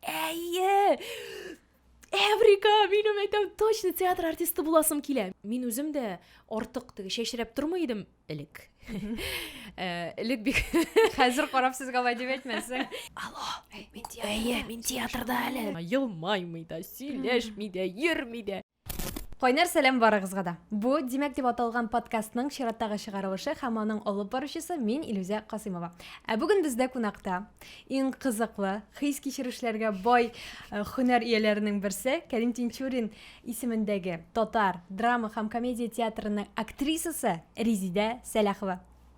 Әйе! Эврика, минем әйтәм, точно театр артисты буласым килә. Мин үзем дә артык теге чәчрәп тормый идем элек. Э, элек бик хәзер карап сезгә алай дип әйтмәсәң. Алло, мин театрда. Әйе, мин театрда әле. Елмаймый да, сөйләшми дә, йөрми дә. Кайнар сәлам барыгызга да. Бу Димәк дип аталган подкастның чираттагы чыгарылышы һәм аның алып баручысы мин Илүзә Касыймова. Ә бүген бездә кунакта иң кызыклы, хис кичерешләргә бай э, һөнәр ияләренең берсе Кәрим Тинчурин исемендәге татар драма һәм комедия театрының актрисасы Резидә Сәләхова.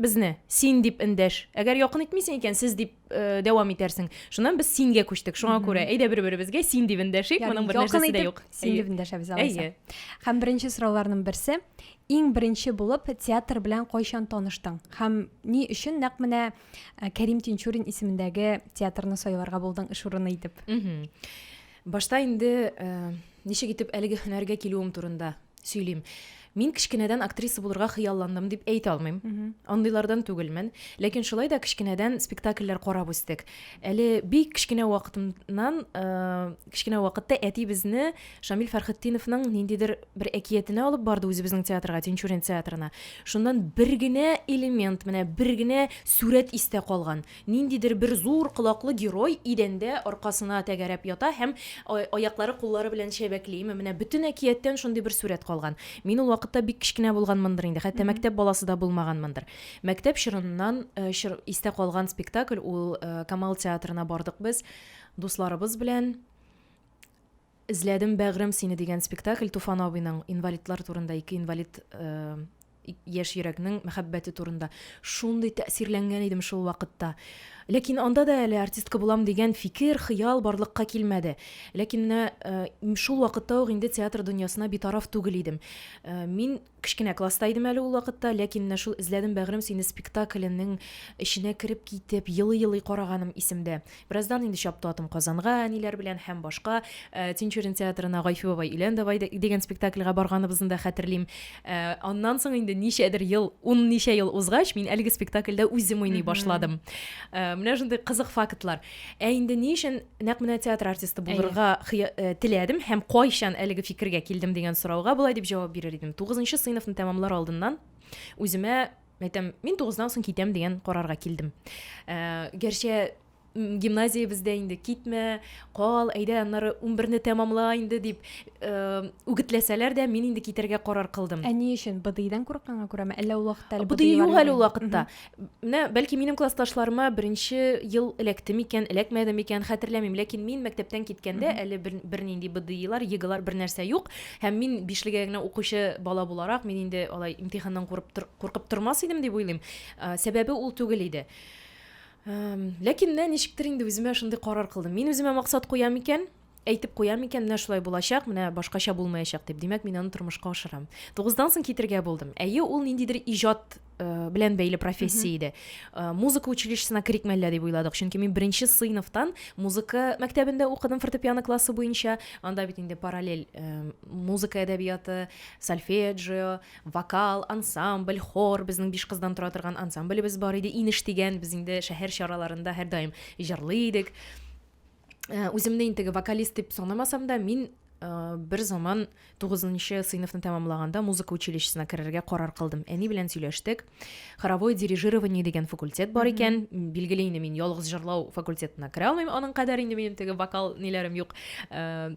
Безне син дип эндәш. Әгәр якын итмисең икән, сез дип э, дәвам итәрсең. Шуннан без сингә күчтек. Шуңа күрә әйдә бер-беребезгә син дип эндәшик. Моның бер нәрсәсе дә юк. Син дип эндәшәбез алайса. Һәм беренче сорауларның берсе, иң беренче булып театр белән кайчан таныштың? Һәм ни өчен нәкъ менә э, Кәрим Тинчурин исемендәге театрны сайларга булдың эш урыны итеп? Башта инде э, ничек итеп әлеге һөнәргә килүем турында сөйлим. Мин кечкенәдән актриса булырга хыялландым дип әйтә алмыйм. Андыйлардан түгелмен. Ләкин шулай да кечкенәдән спектакльләр карап үстек. Әле бик кечкенә вакытыннан, э, кечкенә вакытта әти безне Шамил Фәрхетдиновның ниндидер бер әкиятенә алып барды үзебезнең театрга, Тинчурин театрына. Шуннан бер генә элемент, менә бер генә сурәт истә калган. Ниндидер бер зур колаклы герой идәндә аркасына тәгәрәп ята һәм аяклары-куллары белән чәбәкли. Ме, менә бөтен әкияттән шундый бер сурәт калган. Мин ул вакытта бик кечкенә булганмындыр инде, хәтта мәктәп баласы да булмаганмындыр. Мәктәп чорыннан чор истә калган спектакль ул, Камал театрына бардык без дусларыбыз белән. Эзләдем, бәгърем, сине дигән спектакль Туфан абыйның инвалидлар турында, ике инвалид яшь йөрәкнең мәхәббәте турында. Шундый тәэсирләнгән идем шул вакытта. Ләкин анда да әле артистка булам дигән фикер, хыял барлыкка килмәде. Ләкин менә э, шул вакытта ук инде театр дөньясына битараф түгел идем. Э, мин Кечкенә класста идем әле ул вакытта, ләкин менә шул Эзләдем, бәгърем, сине спектакленең эченә кереп китеп, елый-елый караганым исемдә. Бераздан инде чапты атым Казанга, әниләр белән һәм башка Тинчурин театрына Гайфи бабай, өйлән давай дигән спектакльгә барганыбызны да хәтерлим. Аннан соң инде ничәдер ел, ун ничә ел узгач, мин әлеге спектакльдә үзем уйный башладым. Менә шундый кызык фактлар. Ә инде ни өчен нәкъ менә театр артисты булырга э, теләдем һәм кайчан әлеге фикергә килдем дигән сорауга болай дип җавап бирер идем тугызынчы сыйныфны тәмамлар алдыннан үземә әйтәм мин тугыздан соң китәм дигән карарга килдем ә, гәрчә гимназиябездә инде китмә кал әйдә аннары унберне тәмамла инде дип э, үгетләсәләр дә мин инде китәргә карар кылдым ә ни өчен быдыйдан курыкканга күрәме әллә ул вакытта әле быдый юк әле ул вакытта Менә, бәлки, минем классташларыма беренче ел эләкте микән, эләкмәде микән, хәтерләмим, ләкин мин мәктәптән киткәндә әле бер, бернинди БДИлар, ЕГЭлар бернәрсә юк. Һәм мин бишлегә генә укучы бала буларак, мин инде алай имтиханнан курып, куркып тормас идем дип уйлыйм. Сәбәбе ул түгел иде. Ләкин менә ничектер инде үземә шундый карар кылдым. Мин үземә максат куям икән, Әйтеп куям икән, менә шулай булачак, менә башкача булмаячак дип, димәк, мин аны тормышка ашырам. Тугыздан соң китергә булдым. Әйе, ул ниндидер иҗат э, белән бәйле профессия иде. Э, музыка училищесына керик мәллә дип уйладык, чөнки мин беренче сыйныфтан музыка мәктәбендә укыдым фортепиано классы буенча. Анда бит инде параллель э, музыка әдәбияты, сольфеджио, вокал, ансамбль, хор, безнең биш кыздан тора торган ансамблебез бар иде, Инеш дигән, без инде шәһәр чараларында һәрдаим җырлый идек. Э, үземне инде теге вокалист дип санамасам да мин э, бер заман тугызынчы сыйныфны тәмамлаганда музыка училищесына керергә карар кылдым әни белән сөйләштек хоровое дирижирование дигән факультет бар икән билгеле инде мин ялгыз җырлау факультетына керә алмыйм аның кадәр инде минем теге вокал ниләрем юк э,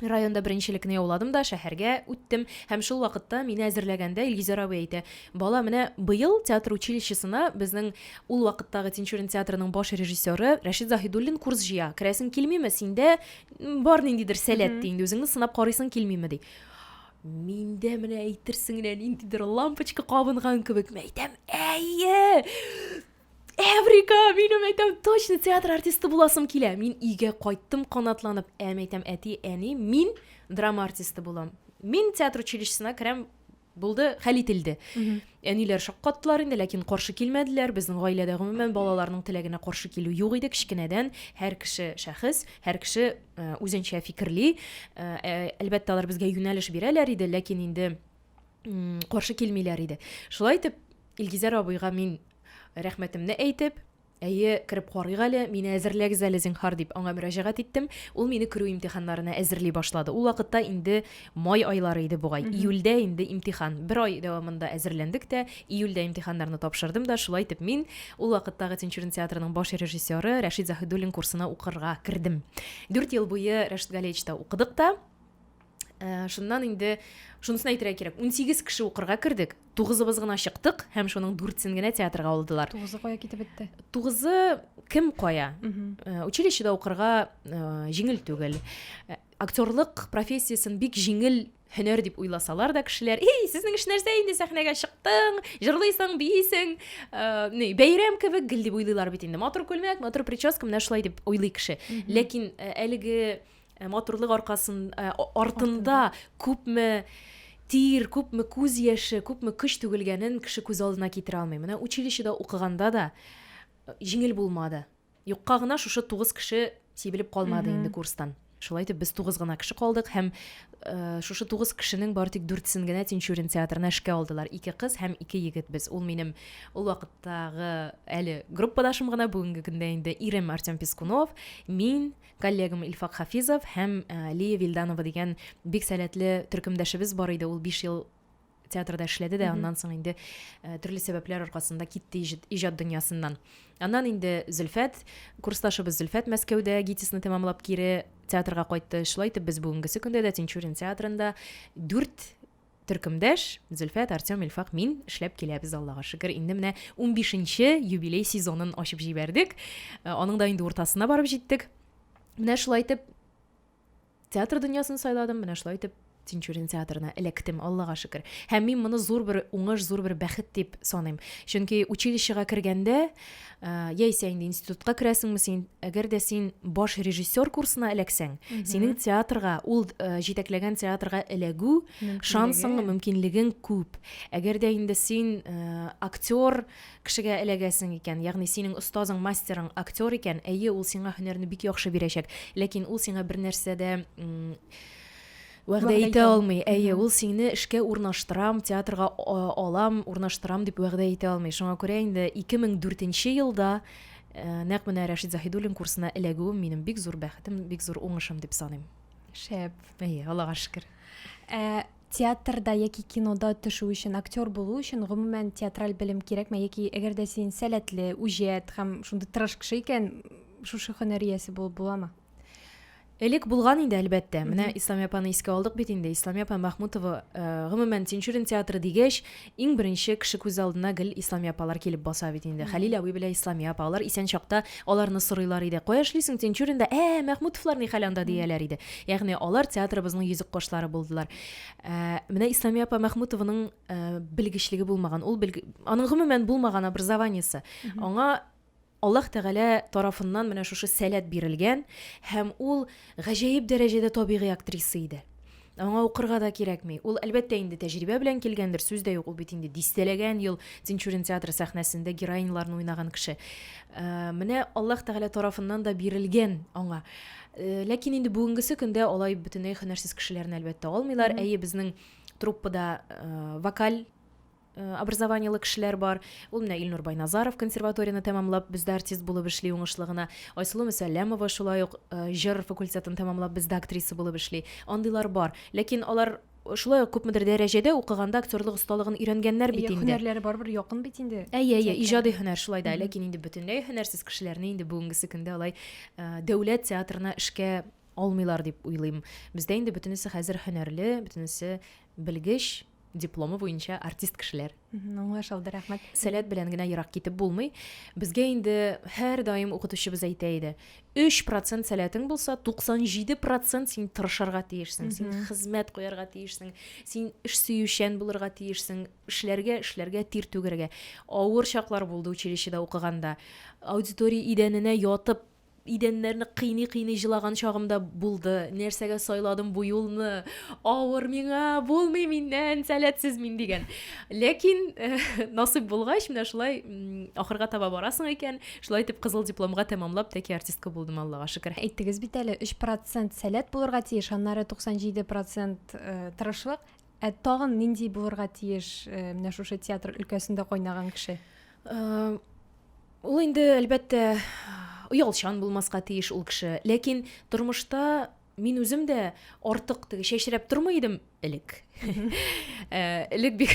Районда беренчелекне яуладым да шәһәргә үттем һәм шул вакытта мине әзерләгәндә Илгизәр абый әйтә, бала, менә быел театр училищесына безнең ул вакыттагы Тинчурин театрының баш режиссеры Рәшит Заһидуллин курс җыя, керәсең килмиме, синдә бар ниндидер сәләт, ди, инде үзеңне сынап карыйсың килмиме, ди. Миндә менә әйтерсең генә ниндидер лампочка кабынган кебек, мин әйтәм, әйе! Эврика, минем әйтәм, точно театр артисты буласым килә. Мин өйгә кайттым канатланып. Әм әйтәм, әти, әни, мин драма артисты булам. Мин театр училищесына керәм, булды, хәл ителде. Әниләр шаккаттылар инде, ләкин каршы килмәделәр. Безнең гаиләдә гомумән балаларның теләгенә каршы килү юк иде кечкенәдән. Һәр кеше шәхес, һәр кеше э, үзенчә фикерли. Э, э, Әлбәттә, алар безгә юнәлеш бирәләр иде, ләкин инде каршы килмиләр иде шулай итеп илгизәр абыйга мин рәхмәтемне әйтеп әйе кереп карыйк әле мине әзерләгез әле зинһар дип аңа мөрәҗәгать иттем ул мине керү имтиханнарына әзерли башлады ул вакытта инде май айлары иде бугай июльдә инде имтихан бер ай дәвамында әзерләндек тә июльдә имтиханнарны тапшырдым да шулай итеп мин ул вакыттагы тинчурин театрының баш режиссеры рәшит заһидуллин курсына укырга кердем дүрт ел буе рәшит галеевичта укыдык та ә, шуннан инде шунысын әйтергә кирәк унсигез кеше укырга кердек тугызыбыз гына чыктык һәм шуның дүртсен генә театрга алдылар тугызы кая китеп бетте тугызы кем кая ә, училищеда укырга ә, җиңел түгел ә, актерлык профессиясен бик җиңел һөнәр дип уйласалар да кешеләр эй сезнең эш нәрсә инде сәхнәгә чыктың җырлыйсың бийсең ә, бәйрәм кебек гел дип уйлыйлар бит инде матур күлмәк матур прическа менә шулай дип уйлый кеше ләкин ә, әлеге Ә матурлык аркасын, ә, артында күпме тир, күпме күз яше, күпме көч түгелгәнен кеше күз алдына китерә алмый. Менә училищеда укыганда да җиңел булмады. Юкка гына шушы тугыз кеше сибелеп калмады инде курстан. Шулай итеп без тугыз гына кеше калдык һәм э, шушы тугыз кешенең бары тик дүртесен генә Тинчурин театрына эшкә алдылар. Ике кыз һәм ике егет без. Ул минем ул вакыттагы әле группадашым гына, бүгенге көндә инде ирем Артем Пискунов, мин, Коллегам Илфак Хафизов һәм Лия Вильданова дигән бик сәләтле төркемдәшебез бар иде. Ул 5 ел театрда эшләде дә, аннан соң инде э, төрле сәбәпләр аркасында китте иҗат дөньясыннан. Аннан инде Зөлфәт, курсташыбыз Зөлфәт Мәскәүдә ГИТИСны тәмамлап кире театрга кайтты. Шулай итеп без бүгенгесе көндә дә Тинчурин театрында дүрт Төркемдәш, Зөлфәт, Артем, Илфак, мин эшләп киләбез, Аллага шөкер. Инде менә 15 нче юбилей сезонын ачып җибәрдек. Э, аның да инде уртасына барып җиттек. Менә шулай итеп театр дөньясын сайладым, менә шулай итеп Тинчурин театрына эләктем, Аллага шөкер. Һәм мин моны зур бер уңыш, зур бер бәхет дип саныйм. Чөнки училищега кергәндә, Ә, яисә инде институтка керәсеңме син әгәр дә син баш режиссер курсына эләксәң синең театрга ул ә, җитәкләгән театрга эләгү шансың мөмкинлегең күп әгәр дә инде син ә, актер кешегә эләгәсең икән ягъни синең остазың мастерың актер икән әйе ул сиңа һөнәрне бик яхшы бирәчәк ләкин ул сиңа бер нәрсә дә Вәгъдә итә алмый. Әйе, ул сине эшкә урнаштырам, театрга алам, урнаштырам дип вәгъдә итә алмый. Шуңа күрә инде 2004 елда нәкъ менә Рәшит Заһидуллин курсына эләгүем минем бик зур бәхетем, бик зур уңышым дип саныйм. Шәп. Әйе, Аллага шөкер. Ә театрда яки кинода төшү өчен, актер булу өчен гомумән театраль белем кирәкме яки әгәр дә син сәләтле, үҗәт һәм шундый тырыш кеше икән, шушы һөнәр иясе булып буламы? Элек булган инде, әлбәттә. Менә Исламия апаны искә алдык бит инде. Исламия апа Махмутова, э, гомумән, Тинчурин театры дигәч, иң беренче кеше күз алдына гел Исламия апалар килеп баса бит инде. Хәлил абый белән Исламия апа, алар исән чакта аларны сорыйлар иде. Кая эшлисең Тинчуринда? Ә, Махмутовлар ни хәл анда дияләр иде. Ягъни алар театрыбызның йөзек кошлары булдылар. Э, менә Исламия апа Махмутованың э, белгечлеге булмаган. Ул белге... аның гомумән булмаган образованиесе. Аңа Аллаһ Тәгалә тарафыннан менә шушы сәләт бирелгән һәм ул гаҗәеп дәрәҗәдә табигый актриса иде. Аңа укырга да кирәкми. Ул, әлбәттә, инде тәҗрибә белән килгәндер, сүз дә юк, ул бит инде дистәләгән ел Тинчурин театры сәхнәсендә героиньларны уйнаган кеше. Э, менә Аллаһ Тәгалә тарафыннан да бирелгән аңа. Э, ләкин инде бүгенгесе көндә алай бөтенләй һөнәрсез кешеләрне, әлбәттә, алмыйлар. Әйе, безнең труппада э, вокаль Э, образованиелы кешеләр бар ул менә илнур байназаров консерваторияне тәмамлап бездә артист булып эшли уңышлы гына айсылу мөсәлләмова шулай ук э, җыр факультетын тәмамлап бездә актриса булып эшли андыйлар бар ләкин алар шулай ук күпмедер дәрәҗәдә укыганда актерлык осталыгын өйрәнгәннәр бит инде һөнәрләре барыбер якын бит инде әйе әйе иҗади һөнәр шулай да ләкин инде бөтенләй һөнәрсез кешеләрне инде бүгенгесе көндә алай э, дәүләт театрына эшкә алмыйлар дип уйлыйм бездә инде бөтенесе хәзер һөнәрле бөтенесе белгеч дипломы буенча артист кешеләр. Аңлаш алды, рәхмәт. Сәләт белән генә ерак китеп булмый. Безгә инде һәр даим укытучыбыз әйтә иде. 3% сәләтең булса, 97% син тырышырга тиешсең, син хезмәт куярга тиешсең, син эш сөючән булырга тиешсең, эшләргә, эшләргә, тир түгәргә. Авыр чаклар булды училищеда укыганда. Аудитория идәненә ятып идәннәрне кыйный-кыйный җылаган чагым да булды. Нәрсәгә сайладым бу юлны? Авыр миңа, булмый миннән, сәләтсез мин дигән. Ләкин э, насыйп булгач, менә шулай ахырга таба барасың икән. Шулай итеп кызыл дипломга тәмамлап, тәки артистка булдым, Аллага шөкер. Әйттегез бит әле, 3% сәләт булырга тиеш, аннары 97% э, тырышлык. Ә тагын нинди булырга тиеш э, менә шушы театр өлкәсендә кайнаган кеше? Э, ул инде әлбәттә оялчан булмаска тиеш ул кеше. Ләкин тормышта мин үзем дә артык теге чәчрәп тормый идем элек. Э, элек бик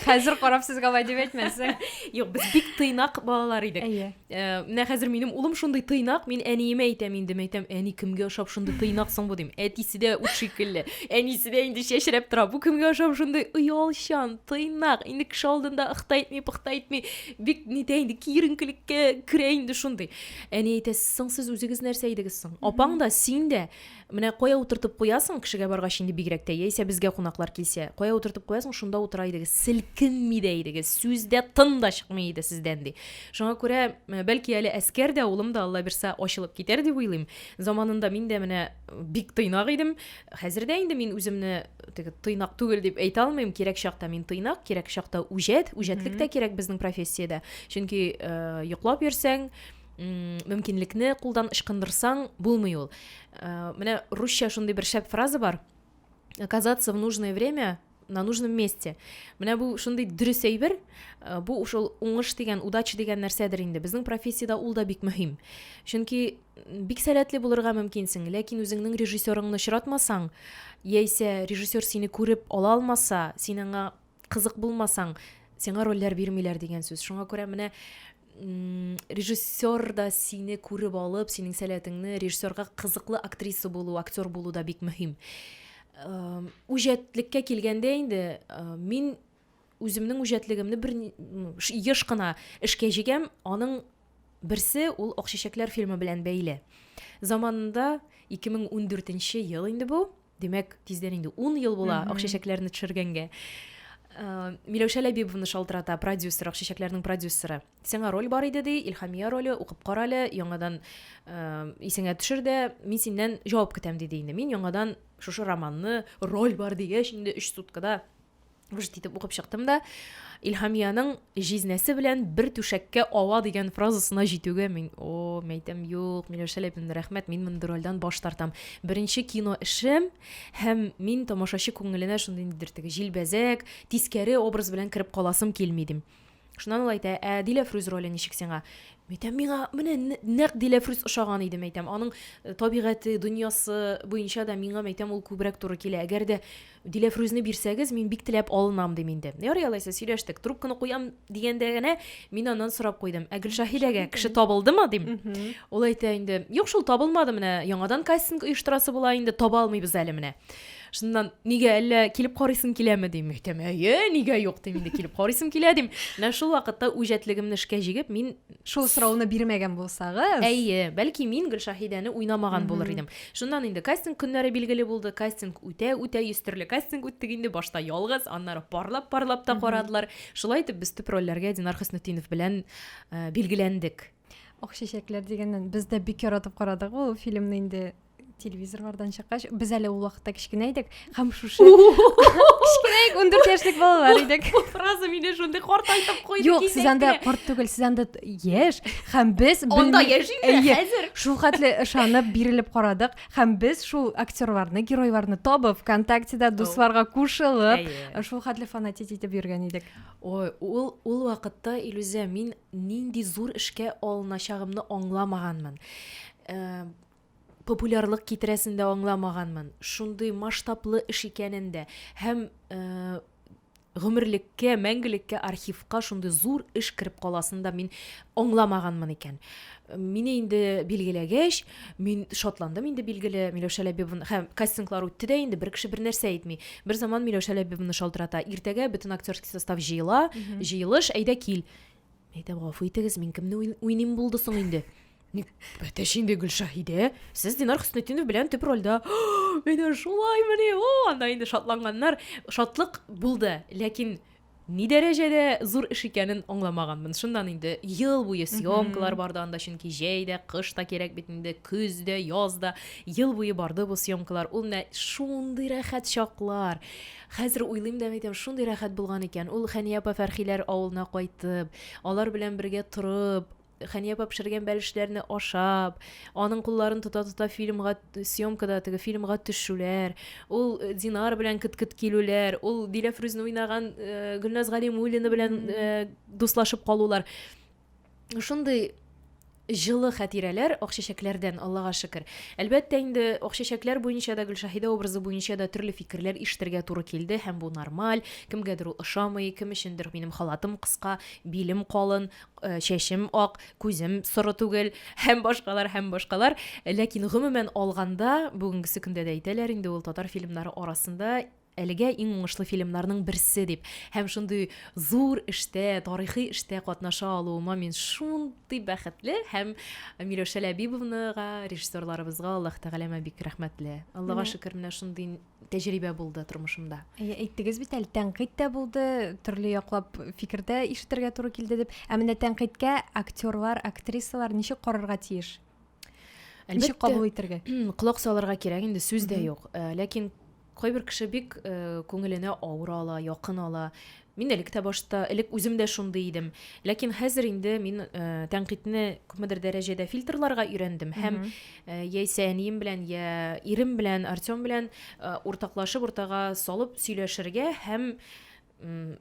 хәзер карап сезгә алай дип әйтмәсәң. Юк, без бик тыйнак балалар идек. Ә, менә хәзер минем улым шундый тыйнак, мин әниемә әйтәм инде, мин әйтәм, әни кемгә ошап шундый тыйнак соң бу дим. Әтисе дә ут шикелле, әнисе дә инде чәчрәп тора. Бу кемгә ошап шундый оялчан, тыйнак, инде кеше алдында ыхта итми, пыхта итми, бик нитә инде киеренкелеккә керә инде шундый. Әни әйтә, соң сез үзегез нәрсә идегез соң? Апаң да, син дә Менә кая утыртып куясың, кешегә баргач инде бигрәк тә, яисә безгә кунаклар килсә, кая утыртып куясың, шунда утыра идегез, селкенми дә идегез, сүз дә тын да чыкмый иде сездән, ди. Шуңа күрә, э, бәлки әле әскәр дә, улым да, алла бирса, ачылып китәр дип уйлыйм. Заманында мин дә менә бик тыйнак идем. Хәзер дә инде мин үземне теге тыйнак түгел дип әйтә алмыйм. Кирәк чакта мин тыйнак, кирәк чакта үҗәт, үҗәтлек тә кирәк безнең профессиядә. Чөнки э, йоклап йөрсәң, мөмкинлекне кулдан ычкындырсаң булмый ул э, менә русча шундый бер шәп фраза бар оказаться в нужное время на нужном месте менә бу шундый дөрес әйбер э, бу ушул уңыш дигән удача дигән нәрсәдер инде безнең профессиядә ул да бик мөһим чөнки бик сәләтле булырга мөмкинсең ләкин үзеңнең режиссерыңны очратмасаң яисә режиссер сине күреп ала алмаса син аңа кызык булмасаң, сиңа рольләр бирмиләр дигән сүз. Шуңа күрә менә режиссер да сине күреп алып, синең сәләтеңне режиссерга кызыклы актриса булу, актер булу да бик мөһим. Үҗәтлеккә килгәндә инде мин үземнең үҗәтлегемне бер еш кына эшкә җигәм, аның берсе ул Акчәчәкләр фильмы белән бәйле. Заманында 2014 ел инде бу. Димәк, тиздән инде ун ел була Акчәчәкләрне төшергәнгә. Э, Миләүшә Ләбибовны шалтырата, продюсер, Акчәчәкләрнең продюсеры. Сиңа роль бар иде, ди, Илхамия роле, укып кара әле, яңадан э, исеңә төшер дә, мин синнән җавап көтәм, диде инде. Мин яңадан шушы романны, роль бар дигәч, инде өч суткада Вжт итеп укып чыктым да, Илһамиянең җизнәсе белән бер түшәккә ава дигән фразасына җитүгә мин, о, мәйтәм, юк, Миләүшә Ләпинна, рәхмәт, мин мондый рольдән баш тартам. Беренче кино эшем һәм мин тамашачы күңеленә шундый ниндидер теге җилбәзәк, тискәре образ белән кереп каласым килми дим. Шуннан ул әйтә, ә Диләфрүз роле ничек сиңа? Әйтәм, миңа менә нәкъ Диләфрүз ошаган иде, әйтәм. Аның э, табигате, дөньясы буенча да миңа, әйтәм, ул күбрәк туры килә. Әгәр дә Диләфрүзне бирсәгез, мин бик теләп алынам, дим инде. Ярый алайса, сөйләштек. Трубканы куям дигәндә генә мин аннан сорап куйдым. Ә Гөлшаһидәгә кеше табылдымы, дим. Ул әйтә инде, юк шул табылмады менә, яңадан кастинг оештырасы була инде, таба алмыйбыз әле менә. шуннан нигә әллә килеп карыйсың киләме дим әйтәм әйе нигә юк дим инде килеп карыйсым килә дим менә шул вакытта үҗәтлегемне эшкә җигеп мин шул сорауны бирмәгән булсагыз әйе бәлки мин гөлшаһидәне уйнамаган булыр идем шуннан инде кастинг көннәре билгеле булды кастинг үтә үтә йөз төрле кастинг үттек инде башта ялгыз аннары парлап парлап та карадылар шулай итеп без төп рольләргә динар хөснетдинов белән э, билгеләндек ак чәчәкләр дигәннән без дә бик яратып карадык ул фильмны инде телевизорлардан чыккач без әле ул вакытта кечкенә идек һәм шушы кечкенә идек ундүрт яшьлек балалар идек бу фраза мине шундый картайтып куйды юк сез анда карт түгел сез анда яшь һәм без анда яшь инде хәзер шул хәтле ышанып бирелеп карадык һәм без шул актерларны геройларны табып вконтактеда дусларга кушылып шул хәтле фанатить итеп йөргән идек ой ул ул вакытта илүзә мин нинди зур эшкә алыначагымны аңламаганмын популярлык китерәсен дә аңламаганмын. Шундый масштаблы эш икәнен дә һәм гомерлеккә, мәңгелеккә архивка шундый зур эш кереп каласын да мин аңламаганмын икән. Мине инде билгеләгәч, мин шатландым инде билгеле, Миләүшә Ләбибовна, һәм кастинглар үтте дә инде, бер кеше бер нәрсә әйтми. Бер заман Миләүшә Ләбибовна шалтырата, иртәгә бөтен актерский состав җыела, җыелыш, әйдә кил. Әйдә, гафу итегез, мин кемне уйныйм булды соң инде? Ник бәтәш инде Гөлшаһидә? Сез Динар Хөснетдинов белән төп рольдә. Менә шулай менә. О, анда инде шатланганнар. Шатлык булды, ләкин ни дәрәҗәдә зур эш икәнен аңламаганмын. Шуннан инде ел буе съемкалар барды анда, чөнки җәй дә, кыш та кирәк бит инде, көз дә, яз да. Ел буе барды бу съемкалар. Ул менә шундый рәхәт чаклар. Хәзер уйлыйм да әйтәм, шундый рәхәт булган икән. Ул Хәния апа Фәрхиләр авылына кайтып, алар белән бергә торып, Хәния апа пешергән бәлешләрне ашап, аның кулларын тота-тота фильмга съемкада теге фильмга төшүләр, ул э, Динар белән кыт-кыт килүләр, ул Диләфрүзне уйнаган э, Гөлназ Галимуллина белән э, дуслашып калулар. шундый җылы хәтирәләр Акчәчәкләрдән, Аллага шөкер. Әлбәттә инде Акчәчәкләр буенча да, Гөлшаһидә образы буенча да төрле фикерләр ишетергә туры килде һәм бу нормаль. Кемгәдер ул ошамый, кем өчендер минем халатым кыска, билем калын, э, чәчем ак, күзем соры түгел һәм башкалар һәм башкалар. Ләкин гомумән алганда, бүгенгесе көндә дә әйтәләр инде ул татар фильмнары арасында Әлегә иң уңышлы фильмнарның берсе дип һәм шундый зур эштә, тарихи эштә катнаша алуыма мин шундый бәхетле һәм Миләүшә Ләбибовнага, режиссерларыбызга Аллаһ Тәгаләмә бик рәхмәтле. Аллага Менә. шөкер, менә шундый тәҗрибә булды тормышымда. Әйе, әйттегез бит әле, тәнкыйть тә булды, төрле яклап фикер дә ишетергә туры килде дип. Ә менә тәнкыйтькә актерлар, актрисалар ничек карарга тиеш? Әлбәттә, кабул итәргә. Колак салырга кирәк, инде сүз дә юк. Э, ләкин кайбер кеше бик э, күңеленә авыр ала, якын ала. Мин элек тә башта, элек үзем дә шундый идем. Ләкин хәзер инде мин э, тәнкыйтьне күпмедер дәрәҗәдә фильтрларга өйрәндем һәм э, яисә әнием белән, я ирем белән, Артем белән э, уртаклашып, уртага салып сөйләшергә һәм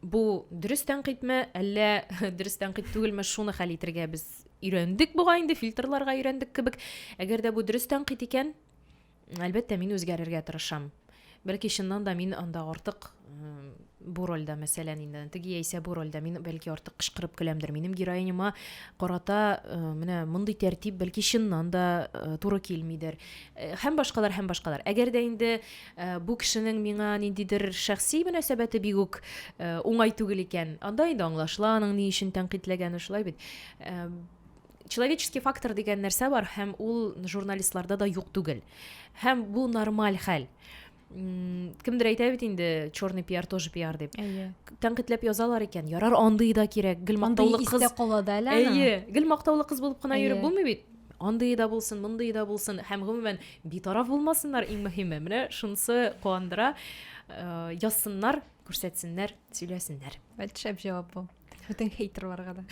бу дөрес тәнкыйтьме әллә дөрес тәнкыйть түгелме шуны хәл итергә без өйрәндек буга инде фильтрларга өйрәндек кебек әгәр дә бу дөрес тәнкыйть икән әлбәттә мин үзгәрергә тырышам бәлки чыннан да мин анда артык бу рольдә мәсәлән инде теге яисә бу рольдә мин бәлки артык кычкырып көләмдер минем героиняма карата э, менә мондый тәртип бәлки чыннан да э, туры килмидер э, һәм башкалар һәм башкалар әгәр дә инде Э, бу кешенең миңа ниндидер шәхси мөнәсәбәте бик үк э, уңай түгел икән анда инде аңлашыла аның ни өчен тәнкыйтьләгәне шулай бит э, человеческий фактор дигән нәрсә бар һәм ул журналистларда да юк түгел һәм бу нормаль хәл кемдер әйтә бит инде черный пиар тоже пиар дип әйе тәнкыйтьләп язалар икән ярар андый да кирәк гел мактаулы кыз кала да әле әйе гел мактаулы кыз булып кына йөреп булмый бит Андые да булсын, мондые да булсын һәм гомумән битараф булмасыннар иң мөһиме. Менә шунысы куандыра. Э, язсыннар, күрсәтсеннәр, сөйләсеннәр. Шәп җавап бу. Бүтән хейтерларга да.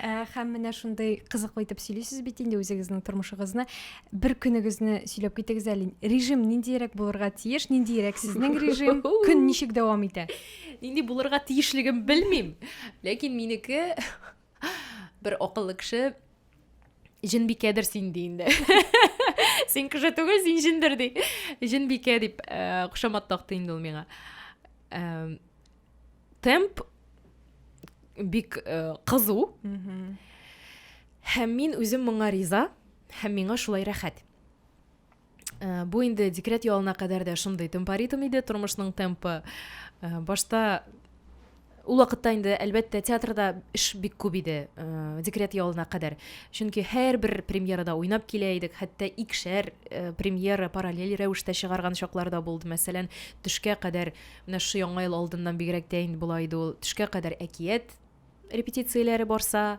Э, һәм менә шундый кызыклы итеп сөйлисез бит инде үзегезнең тормышыгызны. Бер көнегезне сөйләп китегез әле. Режим ниндиерәк булырга тиеш? Ниндиерәк сезнең режим? Көн ничек дәвам итә? Нинди булырга тиешлеген белмим. Ләкин минеке Бер акыллы кеше җенбикәдер син ди инде. Син кеше түгел, син җендер ди. Җенбикә дип э, кушамат такты инде ул миңа. Э, темп бик э, кызу. Һәм мин үзем моңа риза, һәм миңа шулай рәхәт. Э, бу инде декрет ялына кадәр дә шундый темпоритм иде тормышның темпы э, башта ул вакытта инде әлбәттә театрда эш бик күп иде э, декрет ялына кадәр чөнки һәрбер премьерада уйнап килә идек хәтта икшәр премьера параллель рәвештә чыгарган чаклар да булды мәсәлән төшкә кадәр менә шушы яңа ел алдыннан бигрәк тә инде болай иде ул төшкә кадәр әкият репетицияләре барса,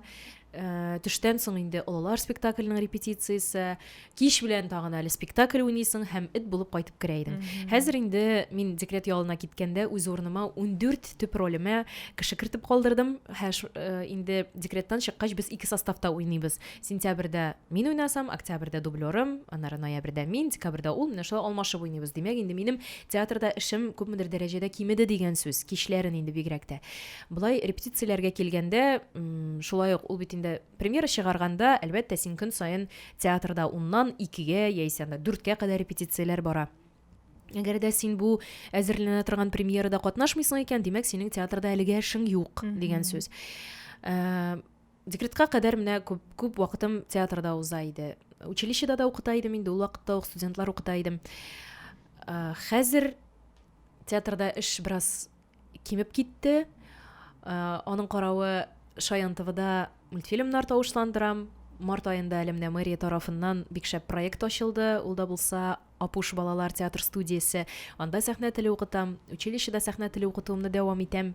э, төштән соң инде олылар спектакльнең репетициясе, кич белән тагын әле спектакль уйныйсың һәм эт булып кайтып керә идең. Хәзер инде мин декрет ялына киткәндә үз урыныма 14 төп ролемә кеше кертеп калдырдым. Һә ш- э, инде декреттан чыккач без ике составта уйныйбыз. Сентябрьдә мин уйнасам, октябрьдә дублерым, аннары ноябрьдә мин, декабрьдә ул, менә шулай алмашып уйныйбыз. Димәк, инде минем театрда эшем күпмедер дәрәҗәдә кимеде дигән сүз, кичләрен инде бигрәк тә. Былай репетицияләргә килгәндә, шулай ук ул бит инде премьера чыгарганда, әлбәттә, син көн саен театрда уннан икегә яисә анда дүрткә кадәр репетицияләр бара. Әгәр дә син бу әзерләнә торган премьерада катнашмыйсың икән, димәк, синең театрда әлегә эшең юк дигән сүз. Э, декретка кадәр менә күп, күп вакытым театрда уза иде. Училищеда да укыта идем инде, ул вакытта ук студентлар укыта идем. Э, хәзер театрда эш бераз кимеп китте. Э, аның каравы Шаян ТВда мультфильмнар тавышландырам. Март аенда әле менә мэрия тарафыннан бик шәп проект ачылды. Ул да булса Апуш балалар театр студиясе. Анда сәхнә теле укытам. Училищеда сәхнә теле укытуымны дәвам итәм.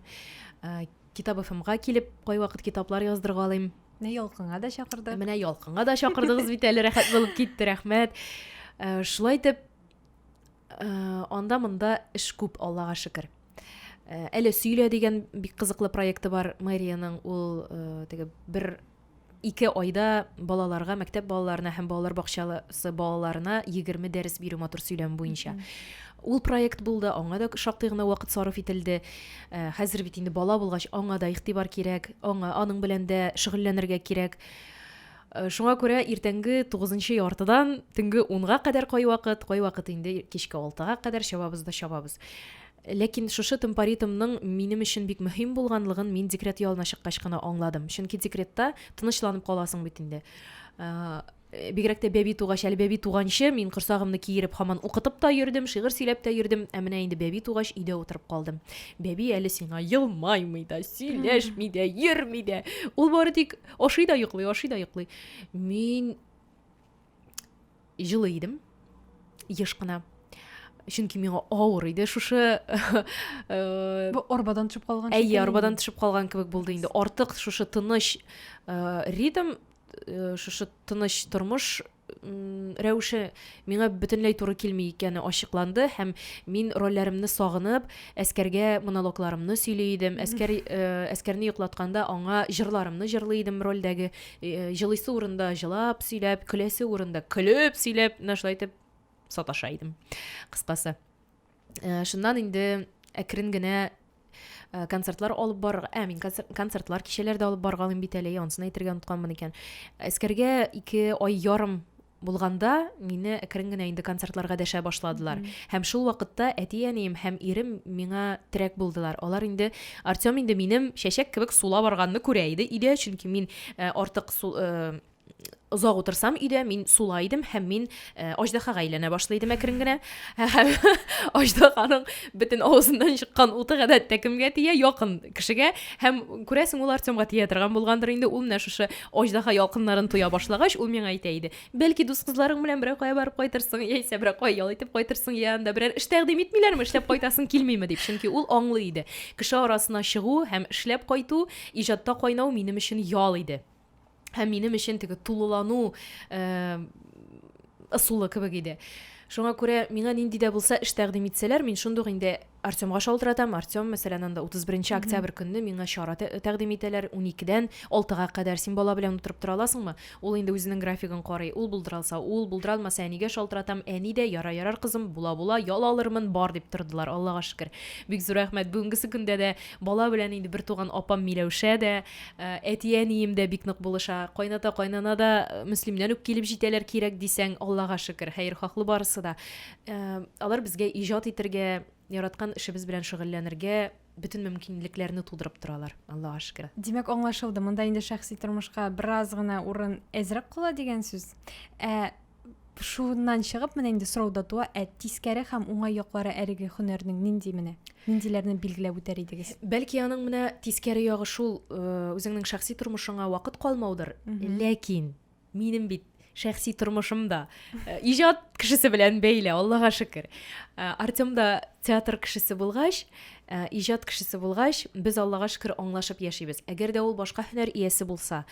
Э, Китап ФМга килеп, кайвакыт китаплар яздырга алыйм. Менә ялкынга да чакырдык. Менә ялкынга да чакырдыгыз бит әле рәхәт булып китте, рәхмәт. Э, шулай итеп Э, анда-монда эш күп, Аллага шөкер. Э, әле сөйлә дигән бик кызыклы проекты бар мэриянең. Ул э, теге бер ике айда балаларга, мәктәп балаларына һәм балалар бакчасы балаларына 20 дәрес бирү матур сөйләм буенча. Ул проект булды, аңа да шактый гына вакыт сарыф ителде. Э, хәзер бит инде бала булгач, аңа да игътибар кирәк, аңа аның белән дә шөгыльләнергә кирәк. Э, шуңа күрә иртәнге тугызынчы яртыдан төнге унга кадәр кайвакыт кайвакыт инде кичке алтыга кадәр чабабыз да чабабыз ләкин шушы темпоритмның минем өчен бик мөһим булганлыгын мин декрет ялына чыккач кына аңладым чөнки декретта тынычланып каласың бит инде э, бигрәк тә бәби тугач әле бәби туганчы мин корсагымны киереп һаман укытып та йөрдем шигырь сөйләп тә йөрдем ә менә инде бәби тугач өйдә утырып калдым бәби әле сиңа елмаймый да сөйләшми дә йөрми дә ул бары тик Ашый да йоклый, ашый да йоклый. Мин җылы идем, еш кына. Чөнки миңа авыр иде шушы э, арбадан төшеп калган. Әйе, арбадан төшеп калган кебек булды инде. Артык шушы тыныч э, ритм, э, шушы тыныч тормыш рәвеше миңа бөтенләй туры килми икәне ачыкланды һәм мин рольләремне сагынып, әскәргә монологларымны сөйли идем. Әскәр э, әскәрне йоклатканда аңа җырларымны җырлый идем рольдәге. Э, җылыйсы урында җылап сөйләп, көләсе урында көлеп сөйләп, менә шулай итеп саташа идем. Кыскасы. Э, шуннан инде әкрен генә э, концертлар алып бар ә мин концертлар кичәләр дә алып баргалыйм бит әле ансын әйтергә онытканмын икән әскәргә ике ай ярым булганда мине әкрен генә инде концертларга дәшә башладылар һәм шул вакытта әти әнием һәм ирем миңа терәк булдылар алар инде артем инде минем чәчәк кебек сула барганны күрә иде өйдә чөнки мин э, артык озак утырсам өйдә, мин сула идем һәм мин э, аждаһага әйләнә башлый идем әкрен генә. Һәм аждаһаның бөтен авызыннан чыккан уты гадәттә кемгә тия? Якын кешегә. Һәм күрәсең, ул Артемга тия торган булгандыр инде. Ул менә шушы аждаһа ялкыннарын тоя башлагач, ул миңа әйтә иде. Бәлки дус кызларың белән берәр кая барып кайтырсың, яисә берәр кая ял итеп кайтырсың, я анда берәр эш тәкъдим итмиләрме, эшләп кайтасың килмиме дип. Чөнки ул аңлый иде. Кеше арасына чыгу һәм эшләп кайту, иҗатта кайнау минем өчен ял иде. һәм минем өчен теге тулылану э, ысулы кебек иде шуңа күрә миңа нинди дә булса эш тәкъдим итсәләр мин шундук инде артемга шалтыратам артем мәсәлән анда утыз беренче октябрь көнне миңа чара тәкъдим итәләр уникедән алтыга кадәр син бала белән утырып тора аласыңмы ул инде үзенең графигын карый ул булдыра алса ул булдыра алмаса әнигә шалтыратам әни дә яра ярар кызым була була ял алырмын бар дип тордылар аллага шөкер бик зур рәхмәт бүгенгесе көндә дә бала белән инде бертуган апам миләүшә дә Ә, әти-әнием дә бик нык булыша. Кайната-кайнана да э, Мөслимнән үк килеп җитәләр кирәк дисәң, Аллага шөкер, хәерхаһлы барысы да. Ә, алар безгә иҗат итергә, яраткан эшебез белән шөгыльләнергә бөтен мөмкинлекләрне тудырып торалар, Аллага шөкер. Димәк, аңлашылды. Монда инде шәхси тормышка бераз гына урын әзрәк кала дигән сүз. Ә шуннан чыгып менә инде сорау да туа ә тискәре һәм уңай яклары әлеге һөнәрнең нинди менә ниндиләрне билгеләп үтәр идегез бәлки аның менә тискәре ягы шул үзеңнең шәхси тормышыңа вакыт калмаудыр ләкин минем бит шәхси тормышым да иҗат кешесе белән бәйле аллага шөкер артем да театр кешесе булгач иҗат кешесе булгач без аллага шөкер аңлашып яшибез әгәр дә ул башка һөнәр иясе булса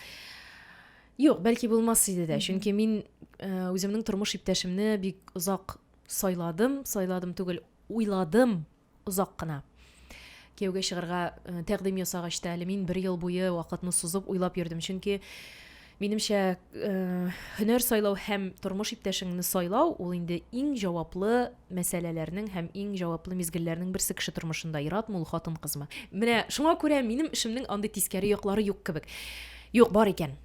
Юк, бәлки булмас иде дә, чөнки мин э, үземнең тормыш иптәшемне бик озак сайладым, сайладым түгел, уйладым озак кына. Кияүгә чыгарга э, тәкъдим ясагач та әле мин бер ел буе вакытны сузып уйлап йөрдем, чөнки минемчә э, һөнәр сайлау һәм тормыш иптәшеңне сайлау ул инде иң җаваплы мәсьәләләрнең һәм иң җаваплы мизгелләрнең берсе кеше тормышында, иратмы ул хатын-кызмы. Менә шуңа күрә минем эшемнең андый тискәре яклары юк кебек. Юк, бар икән.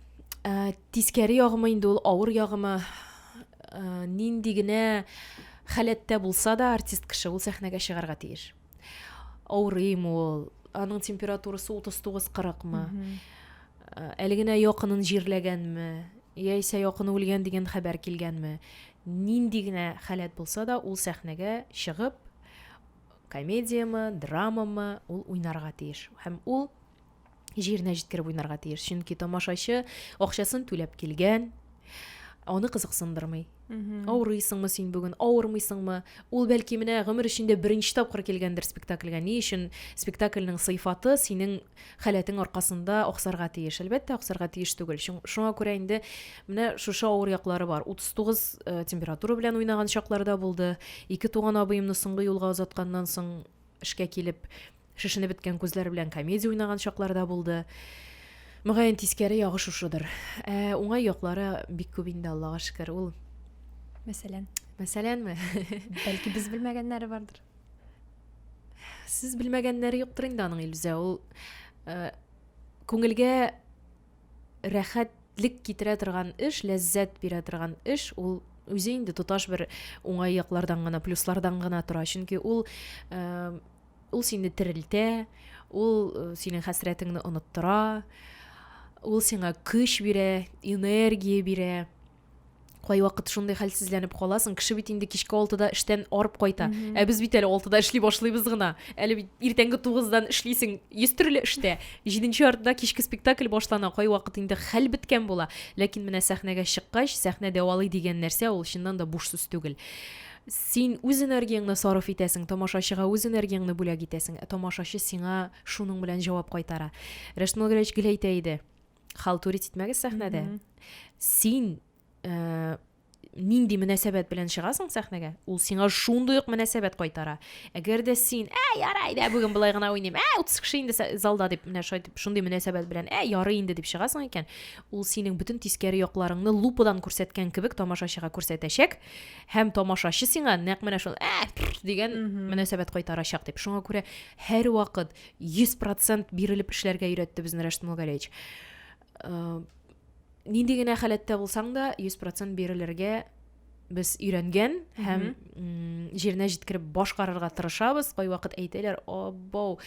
Ә, тискәре ягымы инде ул, авыр ягымы, ә, нинди генә халәттә булса да артист кеше ул сәхнәгә чыгарга тиеш. Авырыйм ул, аның температурасы 39-40-мы, ә, әле генә якынын җирләгәнме, яисә якыны үлгән дигән хәбәр килгәнме, нинди генә халәт булса да ул сәхнәгә чыгып, комедиямы, драмамы ул уйнарга тиеш. Һәм ул җиренә җиткереп уйнарга тиеш чөнки тамашачы акчасын түләп килгән аны кызыксындырмый авырыйсыңмы син бүген авырмыйсыңмы ул бәлки менә гомер эчендә беренче тапкыр килгәндер спектакльгә ни өчен спектакльнең сыйфаты синең халәтең аркасында аксарга тиеш әлбәттә аксарга тиеш түгел шуңа күрә инде менә шушы авыр яклары бар 39 э, температура белән уйнаган чакларда булды ике туган абыемны соңгы юлга озатканнан соң эшкә килеп, шешенеп беткән күзләр белән комедия уйнаган чаклар да булды. Мөгаен тискәре ягы шушыдыр. Ә уңай яклары бик күп инде, Аллага шөкер. Ул Мәсәлән, мәсәләнме? бәлки без белмәгәннәре бардыр. Сез белмәгәннәре юктыр инде аның Илүзә. Ул э, күңелгә рәхәтлек китерә торган эш, ләззәт бирә торган эш, ул үзе инде тоташ бер уңай яклардан гына, плюслардан гына тора. Чөнки ул э, ул сине терелтә, ул э, синең хәсрәтеңне оныттыра, ул сиңа көч бирә, энергия бирә. кайвакыт шундый хәлсезләнеп каласың кеше бит инде кичке алтыда эштән арып кайта mm -hmm. ә без бит әле алтыда эшли башлыйбыз гына әле бит иртәнге тугыздан эшлисең йөз төрле эштә җиденче артында кичке спектакль башлана кайвакыт инде хәл беткән була ләкин менә сәхнәгә чыккач сәхнә дәвалый дигән нәрсә ул чыннан да буш сүз түгел син үз энергияңне сарыф итәсең тамашачыга үз энергияңне бүләк итәсең ә тамашачы сиңа шуның белән җавап кайтара рәшмәл гәрәч гел әйтә иде халтурить итмәгез сәхнәдә mm -hmm. син ә, нинди мөнәсәбәт белән чыгасың сәхнәгә ул сиңа шундый ук мөнәсәбәт кайтара әгәр дә син ә ярай дә бүген болай гына уйныйм ә утыз кеше инде залда дип менә шайтып шундый мөнәсәбәт белән ә ярый инде дип чыгасың икән ул синең бөтен тискәре якларыңны лупадан күрсәткән кебек тамашачыга күрсәтәчәк һәм тамашачы сиңа нәкъ менә шул ә дигән мөнәсәбәт кайтарачак дип шуңа күрә һәрвакыт 100 процент бирелеп эшләргә өйрәтте безне Рәшт Мулгалевич. Э, нинди генә халәттә булсаң да, 100 процент бирелергә без өйрәнгән һәм җиренә җиткереп башкарырга тырышабыз. Кай вакыт әйтәләр, "Абау,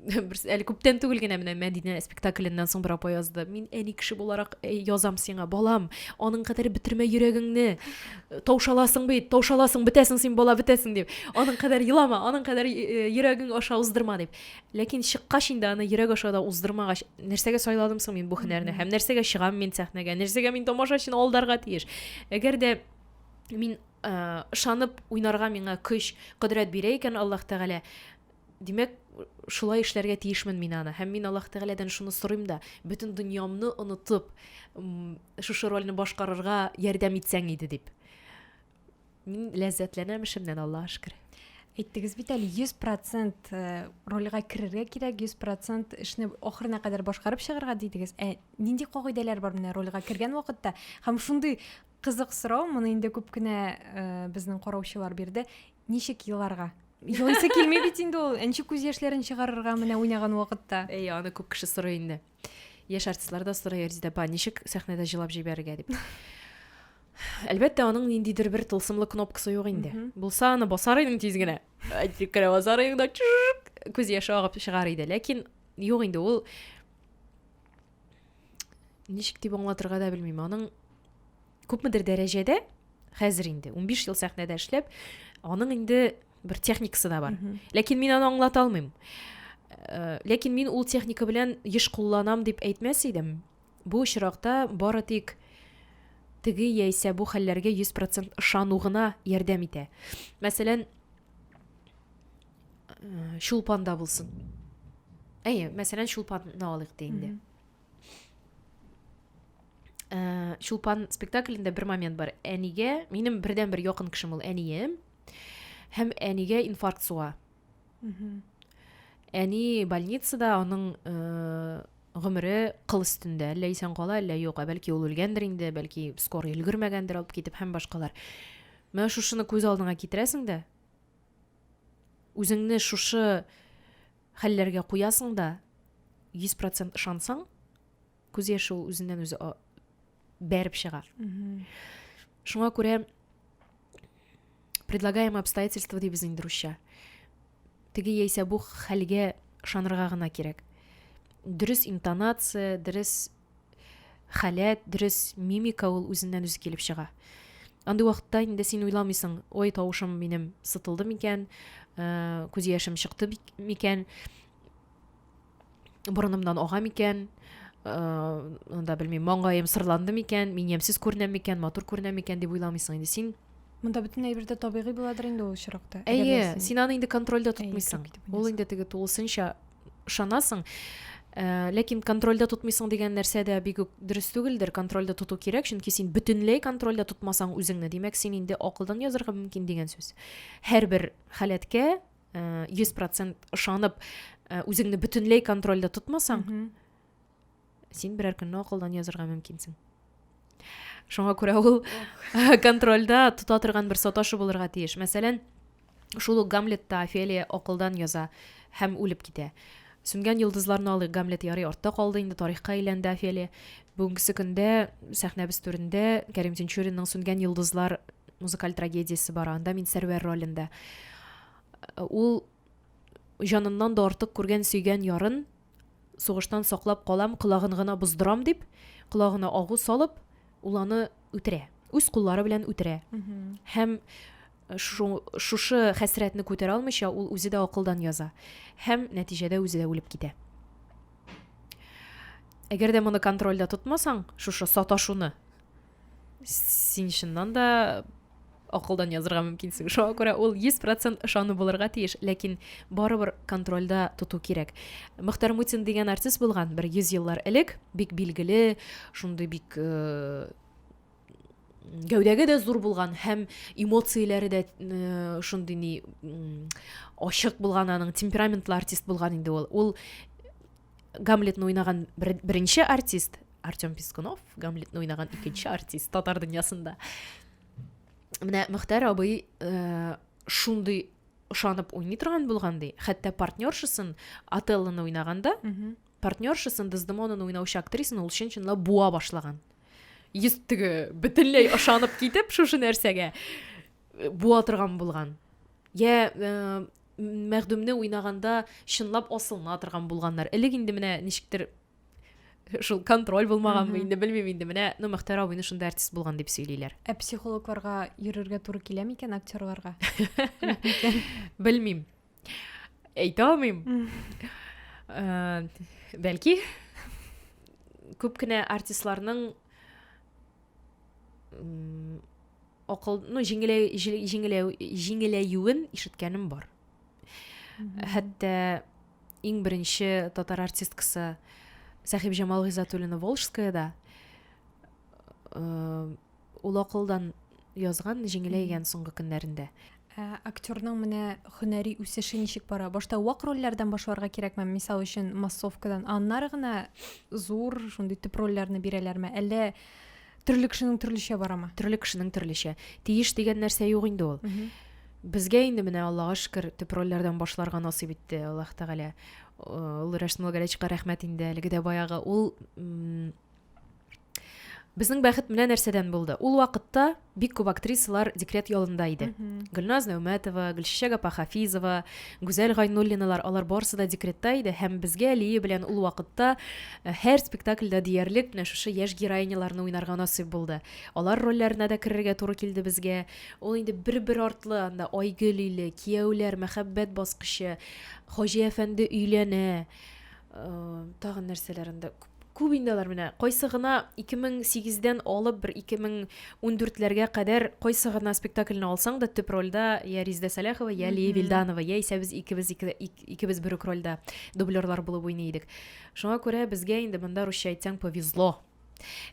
әле күптән түгел генә менә Мәдинә спектакльннән соң бер апа язды. Мин әни кеше буларак язам сиңа, балам, аның кадәр бетермә йөрәгеңне. таушаласың бит таушаласың бетәсең син бала бетәсең дип аның кадәр елама аның кадәр э, йөрәгең аша уздырма дип ләкин чыккач инде аны йөрәк аша да уздырмагач нәрсәгә сайладым соң мин бу һөнәрне һәм нәрсәгә чыгам мин сәхнәгә нәрсәгә мин тамашачыны алдарга тиеш әгәр дә мин э, ышанып уйнарга миңа көч кодрәт бирә икән аллаһ тәгалә Димәк, шулай эшләргә тиешмен мин аны. Һәм мин Аллаһ Тәгаләдән шуны сорыйм да, бөтен дөньямны онытып, шушы рольне башкарырга ярдәм итсәң иде дип. Мин ләззәтләнәм эшемнән, Аллаһ шөкер. Әйттегез бит әле 100% э, рольгә керергә кирәк, 100% эшне ахырына кадәр башкарып чыгарга дидегез. Ә нинди кагыйдәләр бар менә рольгә кергән вакытта? Һәм шундый Кызык сорау, моны инде күп кенә безнең караучылар бирде. Ничек еларга? Елыйсы килми бит инде ул. Ничек күз яшьләрен чыгарырга менә уйнаган вакытта? Әй, аны күп кеше сорый инде. Яшь артистлар да сорый, Резида апа, ничек сәхнәдә җылап җибәрергә дип. Әлбәттә, аның ниндидер бер тылсымлы кнопкасы юк инде. Булса, аны басар идең тиз генә. Әйтик кенә басар идең да күз яше агып чыгар иде. Ләкин юк инде ул ничек дип аңлатырга да белмим аның күпмедер дәрәҗәдә хәзер инде 15 ел сәхнәдә эшләп аның инде бер техникасы да бар ләкин мин аны аңлата алмыйм э, ләкин мин ул техника белән еш кулланам дип әйтмәс идем бу очракта бары тик теге яисә бу хәлләргә 100% ышану гына ярдәм итә мәсәлән э, чулпанда булсын әйе мәсәлән чулпанны алыйк та инде э, чулпан спектаклендә бер момент бар әнигә минем бердән бер якын кешем ул әнием һәм әнигә инфаркт суга әни больницада аның э, гомере кыл өстендә әллә исән кала әллә юк ә бәлки ул үлгәндер инде бәлки скорый өлгермәгәндер алып китеп һәм башкалар менә шушыны күз алдыңа китерәсең дә үзеңне шушы хәлләргә куясың да, 100% ышансаң, күз яше ул үзеннән үзе бәреп чыга. Шуңа күрә предлагаемое обстоятельство дибез инде русча. Теге яисә бу хәлгә ышанырга гына кирәк. Дөрес интонация, дөрес халәт, дөрес мимика ул үзеннән-үзе килеп чыга. Андый вакытта инде син уйламыйсың, ой, тавышым минем сытылды микән, э, күз яшем чыкты микән, борынымнан ага микән, анда э, белмим маңгаем сырланды микән мин ямьсез күренәм микән матур күренәм микән дип уйламыйсың инде син монда бөтен әйбер дә табигый буладыр инде ул очракта әйе син аны инде контрольдә тотмыйсың ул инде теге тулысынча ышанасың э, ләкин контрольдә тотмыйсың дигән нәрсә дә бик үк дөрес түгелдер контрольдә тоту кирәк чөнки син бөтенләй контрольдә тотмасаң үзеңне димәк син инде акылдан язырга мөмкин дигән сүз һәрбер халәткә э, йөз процент ышанып э, үзеңне бөтенләй контрольдә тотмасаң син берәр көнне акылдан язырга мөмкинсең шуңа күрә ул контрольда тота торган бер саташы булырга тиеш мәсәлән шул ук гамлетта офелия акылдан яза һәм үлеп китә сүнгән йолдызларны алыйк гамлет ярый артта калды инде тарихка әйләнде офелия бүгенге көндә сәхнәбез түрендә кәрим тинчуринның сүнгән йолдызлар музыкаль трагедиясе бар анда мин сәрвәр ролендә ул җаныннан да артык күргән сөйгән ярын сугыштан саклап калам, колагын гына боздырам дип, колагына агу салып, ул аны үтерә. Үз куллары белән үтерә. Һәм шушы хәсрәтне күтәрә алмыйча, ул үзе дә акылдан яза. Һәм нәтиҗәдә үзе дә үлеп китә. Әгәр дә моны контрольдә тотмасаң, шушы саташуны, син чыннан да акылдан язырга мөмкинсең шуңа күрә ул йөз процент ышану булырга тиеш ләкин барыбер контрольда тоту кирәк мөхтәр мутин дигән артист булган бер йөз еллар элек бик билгеле шундый бик э, гәүдәге дә зур булган һәм эмоцияләре дә э, шундый ни ачык булган аның темпераментлы артист булган инде ул ул гамлетны уйнаган беренче артист артем пискунов гамлетны уйнаган икенче артист татар дөньясында менә мөхтәр абый э, шундый ышанып уйный торган булган ди хәтта партнершасын отеллоны уйнаганда партнершасын дездемонаны уйнаучы актрисаны ул чын чынлап буа башлаган йөз теге бөтенләй ышанып китеп шушы нәрсәгә э, буа торган булган я э, Мәхдүмне уйнаганда чынлап асылына торган булганнар. Элек инде менә ничектер шул контроль булмаганмы инде белмим инде менә ну мөхтәр абыйны шунда артист булган дип сөйлиләр ә психологларга йөрергә туры килә микән актерларга белмим әйтә алмыйм э, бәлки күп кенә артистларның акыл, ну, җиңеләю, җиңеләю, җиңеләюен ишеткәнем бар. Хәтта иң беренче татар артисткасы Сәхиб Җамал Гизатуллина Волжская да э, ул акылдан язган җиңеләйгән соңгы көннәрендә. Ә актерның менә һөнәри үсеше ничек бара? Башта вак рольләрдән башларга кирәкме? Мисал өчен, массовкадан. Аннары гына зур, шундый төп рольләрне бирәләрме? Әллә төрле кешенең төрлечә барамы? Төрле кешенең төрлечә. Тиеш дигән нәрсә юк инде ул. Безгә инде менә Аллага шөкер, төп рольләрдән башларга насыйп итте Аллаһ Тәгалә. Ул Рәшмул Гәрәчка рәхмәт инде, әлеге дә баягы. Ул Безнең бәхет менә нәрсәдән булды. Ул вакытта бик күп актрисалар декрет ялында иде. Гөлназ Нәүмәтова, Гөлчәчәк апа Хафизова, Гүзәл Гайнуллиналар, алар барысы да декретта иде һәм безгә Лия белән ул вакытта э, һәр спектакльдә диярлек менә шушы яшь героиняларны уйнарга насыйп булды. Алар рольләренә дә керергә туры килде безгә. Ул инде бер-бер артлы анда Айгөл иле, Кияүләр, Мәхәббәт баскычы, Хаҗи әфәнде өйләнә, Тагын нәрсәләр инде күп инде алар менә кайсы гына 2008 дән алып бер 2014 ләргә кадәр кайсы гына спектакльне алсаң да төп рольдә я Риздә Сәләхова, я Лия Вильданова, я исә без икебез икебез бер үк рольдә дублерлар булып уйный идек. Шуңа күрә безгә инде монда русча әйтсәң повезло.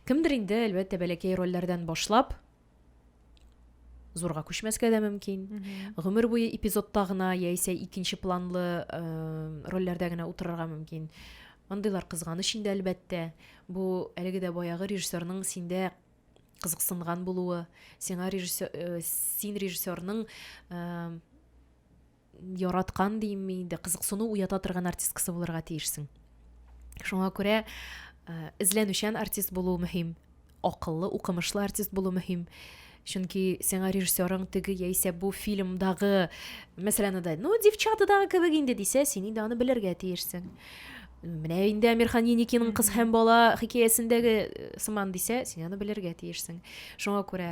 Кемдер инде әлбәттә бәләкәй рольләрдән башлап зурга күчмәскә дә мөмкин гомер буе эпизодта гына яисә икенче планлы э, рольләрдә генә утырырга мөмкин андыйлар кызганыч инде әлбәттә бу әлеге дә баягы режиссерның синдә кызыксынган булуы сиңа режиссер э, син режиссерның э, яраткан димме инде, кызыксыну уята торган артисткасы булырга тиешсең. Шуңа күрә э, эзләнүчән артист булу мөһим, акыллы, укымышлы артист булу мөһим. Чөнки сиңа режиссерың теге яисә бу фильмдагы, мәсәлән, да, ну, девчатадагы кебек инде дисә, син инде аны белергә тиешсең. Менә инде Амирхан Еникинең кыз һәм бала хикәясендәге э, сыман дисә, син аны белергә тиешсең. Шуңа күрә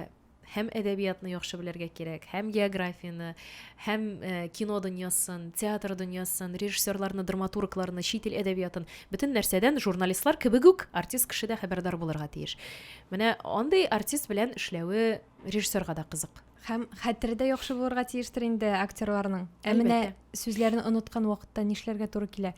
һәм әдәбиятны яхшы белергә кирәк, һәм географияне, һәм э, кино дөньясын, театр дөньясын, режиссерларны, драматургларны, чит ил әдәбиятын, бөтен нәрсәдән журналистлар кебек үк артист кеше дә хәбәрдар булырга тиеш. Менә андый артист белән эшләве режиссерга да кызык. Һәм хәтере дә яхшы булырга тиештер инде актерларның. Ә менә сүзләрне оныткан вакытта нишләргә туры килә?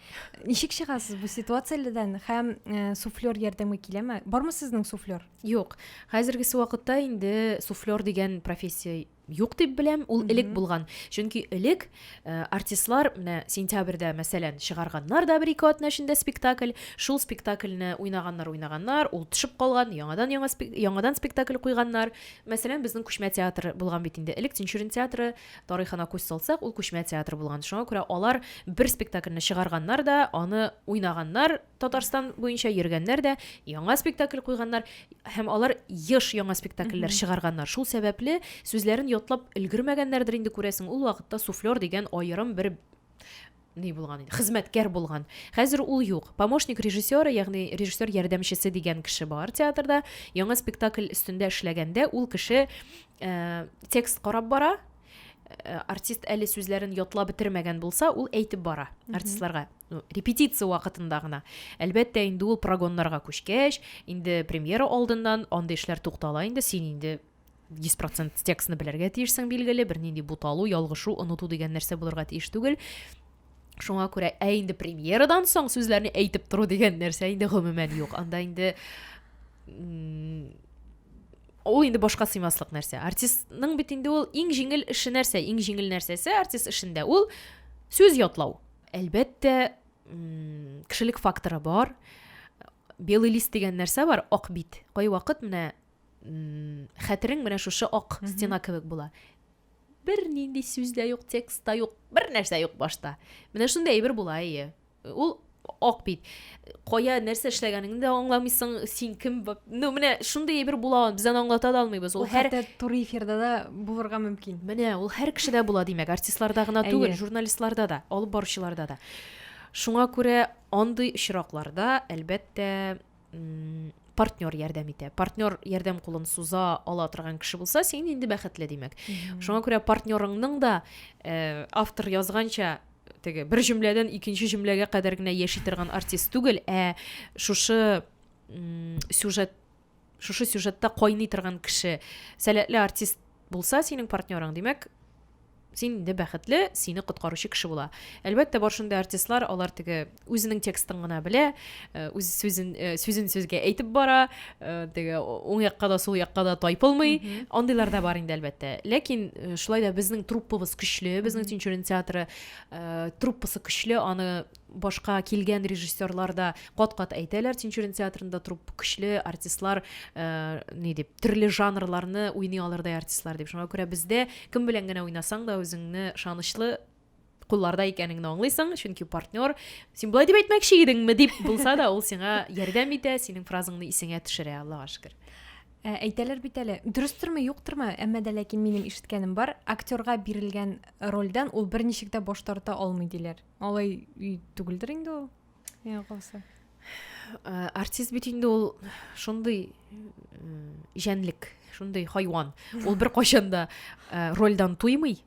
Ничек чыгасыз бу ситуациядән һәм э, суфлер ярдәме киләме? Бармы сезнең суфлер? Юк, хәзергесе вакытта инде суфлер дигән профессия юк дип беләм, ул элек булган. Чөнки элек э, артистлар менә сентябрьдә, мәсәлән, чыгарганнар да бер-ике атна эчендә спектакль, шул спектакльне уйнаганнар, уйнаганнар, ул төшеп калган, яңадан яңа спек- яңадан спектакль куйганнар. Мәсәлән, безнең күчмә театр булган бит инде. Элек Тинчурин театры тарихына күз салсак, ул күчмә театр булган. Шуңа күрә алар бер спектакльне чыгарганнар да, аны уйнаганнар, Татарстан буенча йөргәннәр дә яңа спектакль куйганнар һәм алар еш яңа спектакльләр чыгарганнар. Шул сәбәпле сүзләрен ятлап өлгермәгәннәрдер инде күрәсең. Ул вакытта суфлер дигән аерым бер ни булган иде, хезмәткәр булган. Хәзер ул юк. Помощник режиссера, ягъни режиссер ярдәмчесе дигән кеше бар театрда. Яңа спектакль өстендә эшләгәндә ул кеше э, текст карап бара, э, артист әле сүзләрен ятлап бетермәгән булса, ул әйтеп бара артистларга. Ну, репетиция вакытында гына. Әлбәттә, инде ул прогоннарга күчкәч, инде премьера алдыннан андый эшләр туктала инде, син инде 100% текстны белергә тиешсең билгеле, бернинди буталу, ялгышу, оныту дигән нәрсә булырга тиеш түгел. Шуңа күрә ә инде премьерадан соң сүзләрне әйтеп тору дигән нәрсә инде гомумән юк. Анда инде ул инде башка сыймаслык нәрсә. Артистның бит инде ул иң җиңел эше нәрсә? Иң җиңел нәрсәсе артист эшендә ул сүз ятлау. Әлбәттә, кешелек факторы бар. Белый лист дигән нәрсә бар, ак бит. Кайвакыт менә хәтерең менә шушы ак стена кебек була. Бер нинди сүз дә юк, текст та юк, бер нәрсә юк башта. Менә шундый әйбер була, әйе. Ул ак бит. кая нәрсә эшләгәнеңне дә аңламыйсың син кем ну менә шундый әйбер була без аны аңлата да алмыйбыз ул һәр туры эфирда да булырга мөмкин менә ул һәр кешедә була димәк артистларда гына түгел журналистларда да алып баручыларда да шуңа күрә андый очракларда әлбәттә партнер ярдәм итә партнер ярдәм кулын суза ала торган кеше булса син инде бәхетле димәк шуңа күрә партнерыңның да э, автор язганча теге бер җөмләдән икенче җөмләгә кадәр генә яши торган артист түгел, ә шушы сюжет шушы сюжетта кайный торган кеше сәләтле артист булса синең партнерың димәк син инде бәхетле сине коткаручы кеше була әлбәттә бар шундый артистлар алар теге үзенең текстын гына белә э, үз сүзен э, сүзен сүзгә әйтеп бара э, теге уң якка да сул якка да тайпылмый андыйлар да бар инде әлбәттә ләкин шулай да безнең труппабыз көчле безнең тинчурин театры труппасы көчле аны башка килгән режиссерлар да кат кат әйтәләр тинчурин театрында труппа көчле артистлар ни дип төрле жанрларны уйный алырдай артистлар дип шуңа күрә бездә кем белән генә уйнасаң да үзеңне ышанычлы кулларда икәнеңне аңлыйсың чөнки партнер син болай дип әйтмәкче идеңме дип булса да ул сиңа ярдәм итә синең фразаңны исеңә төшерә аллага шөкер Ә, әйтәләр бит әле дөрестерме юктырмы әмма дә ләкин минем ишеткәнем бар актерга бирелгән рольдән ул берничек тә баш тарта алмый диләр алай түгелдер инде ул миңа калса ә, артист бит инде ул шундый җәнлек шундый хайван ул бер кайчан да ә, рольдан туймый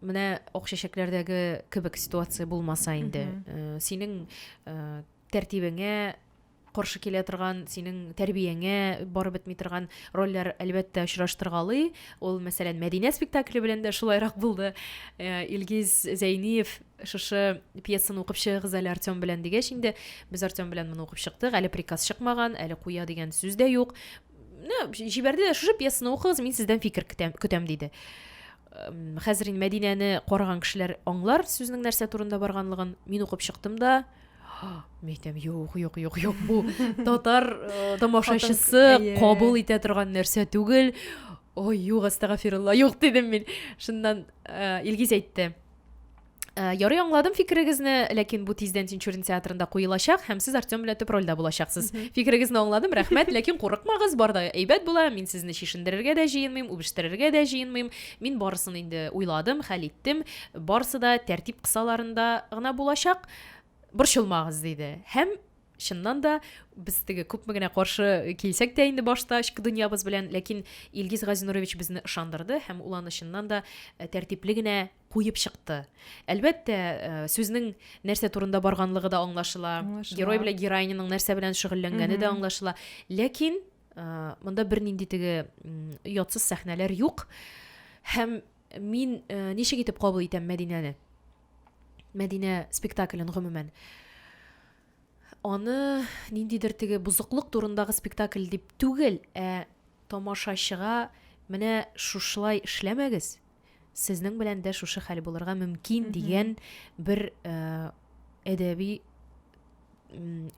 менә ак чәчәкләрдәге кебек ситуация булмаса инде э, синең э, тәртибеңә каршы килә торган синең тәрбияңә барып бетми торган рольләр әлбәттә очраштыргалый ул мәсәлән мәдинә спектакле белән дә шулайрак булды э, илгиз зәйниев шушы пьесаны укып чыгыгыз әле артем белән дигәч инде без артем белән моны укып чыктык әле приказ чыкмаган әле куя дигән сүз дә юк җибәрде дә шушы пьесаны укыгыз мин сездән фикер көтәм, көтәм диде хәзер инде мәдинәне караган кешеләр аңлар сүзнең нәрсә турында барганлыгын мин укып чыктым да мен айтам юк юк юк юк бу татар э, тамашачысы кабул итә торган нәрсә түгел ой юк астагафирулла юк дидем мин шуннан э, илгиз әйтте Э, ярый аңладым фикерегезне ләкин бу тиздән тинчурин театрында куелачак һәм сез артем белән төп рольдә булачаксыз фикерегезне аңладым рәхмәт ләкин курыкмагыз бар да әйбәт була мин сезне чишендерергә дә җыенмыйм үбештерергә дә җыенмыйм мин барысын инде уйладым хәл иттем барысы да тәртип кысаларында гына булачак борчылмагыз диде һәм чыннан да без теге күпме генә каршы килсәк тә инде башта эчке дөньябыз белән ләкин илгиз газинурович безне ышандырды һәм ул аны чыннан да э, тәртипле генә куеп чыкты. Әлбәттә, э, сүзнең нәрсә турында барганлыгы да аңлашыла, аңлашыла. герой белән героиняның нәрсә белән шөгыльләнгәне дә аңлашыла. Ләкин э, монда бернинди теге ятсыз сәхнәләр юк. Һәм мин э, ничек итеп кабул итәм Мәдинәне? Мәдинә спектаклен гомумән аны ниндидер теге бузыклык турындагы спектакль дип түгел, ә тамашачыга менә шушылай эшләмәгез, сезнең белән дә шушы хәл булырга мөмкин дигән бер әдәби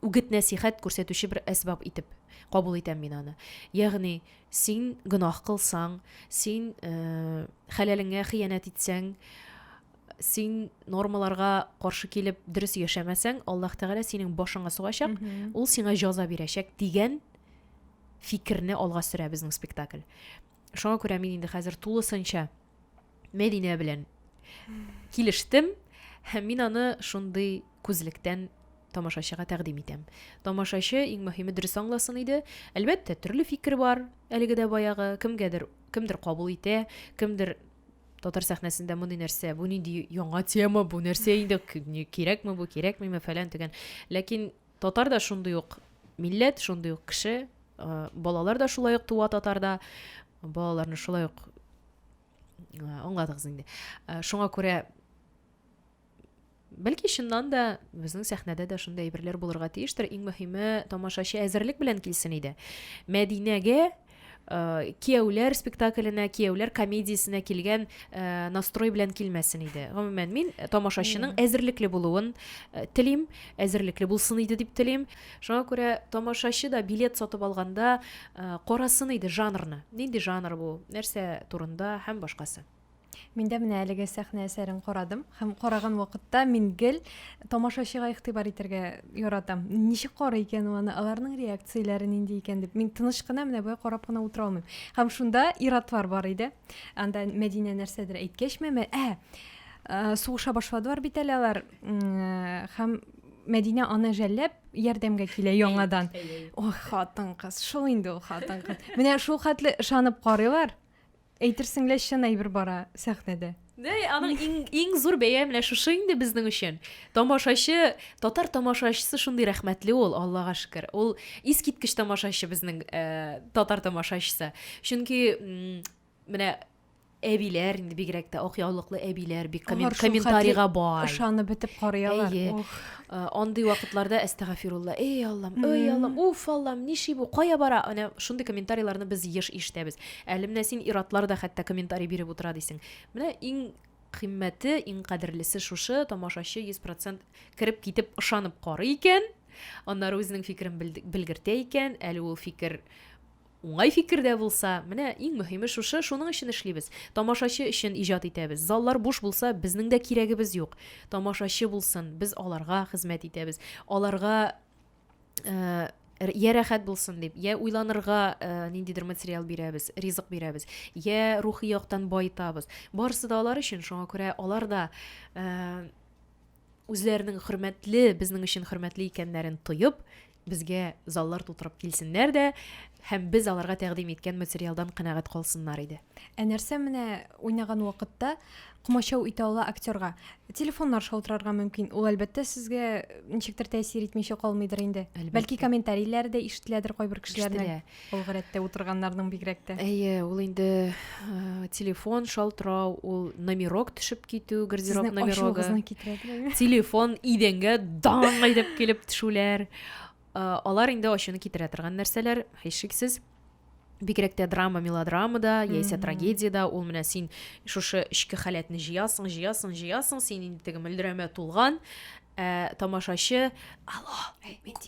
үгет нәсихәт күрсәтүче бер әсбаб итеп кабул итәм мин аны ягъни син гөнаһ кылсаң син ә, хәләлеңә хыянәт итсәң син нормаларга каршы килеп дөрес яшәмәсәң аллаһ тәгалә синең башыңа сугачак ул сиңа җаза бирәчәк дигән фикерне алга сөрә безнең спектакль Шуңа күрә мин инде хәзер тулысынча Мәдинә белән килештем һәм мин аны шундый күзлектән тамашачыга тәкъдим итәм. Тамашачы иң мөһиме дөрес аңласын иде. Әлбәттә, төрле фикер бар. Әлеге дә баягы кемгәдер, кемдер кабул итә, кемдер татар сәхнәсендә мондый нәрсә, бу нинди яңа тема, бу нәрсә инде, кирәкме бу, кирәкмиме, фәлән төгән. Ләкин Татар да шундый ук милләт, шундый ук кеше, балалар да шулай ук туа татарда, балаларны шулай ук аңладыгыз инде. Шуңа күрә Бәлки чыннан да безнең сәхнәдә дә шундый әйберләр булырга тиештер. Иң мөһиме тамашачы әзерлек белән килсен иде. Мәдинәгә Э, кияүләр спектакленә кияүләр комедиясенә килгән э, настрой белән килмәсен иде гомумән мин э, тамашачының әзерлекле булуын телим әзерлекле булсын иде дип телим шуңа күрә тамашачы да билет сатып алганда карасын иде жанрны нинди жанр бу нәрсә турында һәм башкасы Мин дә менә әлеге сәхнә әсәрен карадым һәм караган вакытта мин гел тамашачыга игътибар итәргә яратам. Ничек карый икән ул аны, аларның реакцияләре нинди икән дип. Мин тыныч кына менә болай карап кына утыра алмыйм. Һәм шунда ир-атлар бар иде. Анда Мәдинә нәрсәдер әйткәчме, мә, ә, ә, сугыша башладылар бит әле алар. Һәм Мәдинә аны жәлләп ярдәмгә килә яңадан. Ох, хатын-кыз, шул инде ул хатын-кыз. Менә шул хәтле ышанып карыйлар. Әйтерсең лә чын әйбер бара сәхнәдә. Дә, аның иң, иң зур бәя менә шушы инде безнең өчен. Тамашачы, татар тамашачысы шундый рәхмәтле ул, Аллага шөкер. Ул искиткеч тамашачы безнең э, татар тамашачысы. Чөнки менә әбиләр инде бигрәк тә ак яулыклы әбиләр бик коммент, комментарийга бай. Ышанып бетеп карыйлар. Әйе. Э, андый вакытларда әстәгафирулла, эй Аллам, эй Аллам, уф Аллам, ниши бу, кая бара? Әнә шундый комментарийларны без еш ишетәбез. Әле менә син ир-атлар да хәтта комментарий биреп утыра дисең. Менә иң кыйммәте, иң кадерлесе шушы, тамашачы 100 процент кереп китеп ышанып карый икән, аннары үзенең фикерен белгертә икән, әле ул фикер уңай фикер дә булса, менә иң мөһиме шушы, шуның өчен эшлибез. Тамашачы өчен иҗат итәбез. Заллар буш булса, безнең дә кирәгебез юк. Тамашачы булсын, без аларга хезмәт итәбез. Аларга ә, я рәхәт булсын дип я уйланырга ә, ниндидер материал бирәбез ризык бирәбез я рухи яктан баетабыз барысы да алар өчен шуңа күрә алар да ә, үзләренең хөрмәтле безнең өчен хөрмәтле икәннәрен тоеп безгә заллар тутырып килсеннәр дә һәм без аларга тәкъдим иткән материалдан канәгать калсыннар иде Ә нәрсә менә уйнаган вакытта комачау итә ала актерга? Телефоннар шалтырарга мөмкин. Ул әлбәттә сезгә ничектер тәэсир итмичә калмыйдыр инде. Әлбәттә. Бәлки комментарийләр дә ишетеләдер кайбер кешеләрнең. Ул гадәттә утырганнарның бигрәк тә. Әйе, ул инде э, телефон шалтырау, ул номерок төшеп китү, гардероб номерогы. Телефон идәнгә даң әйдәп килеп төшүләр. Э, алар инде ачуны китерә торган нәрсәләр, һичшиксез. бигрәк тә драма мелодрамада яисә трагедиядә ул менә син шушы эчке халәтне җыясың җыясың җыясың син инде теге мөлдерәмә тулган ә, тамашачы алло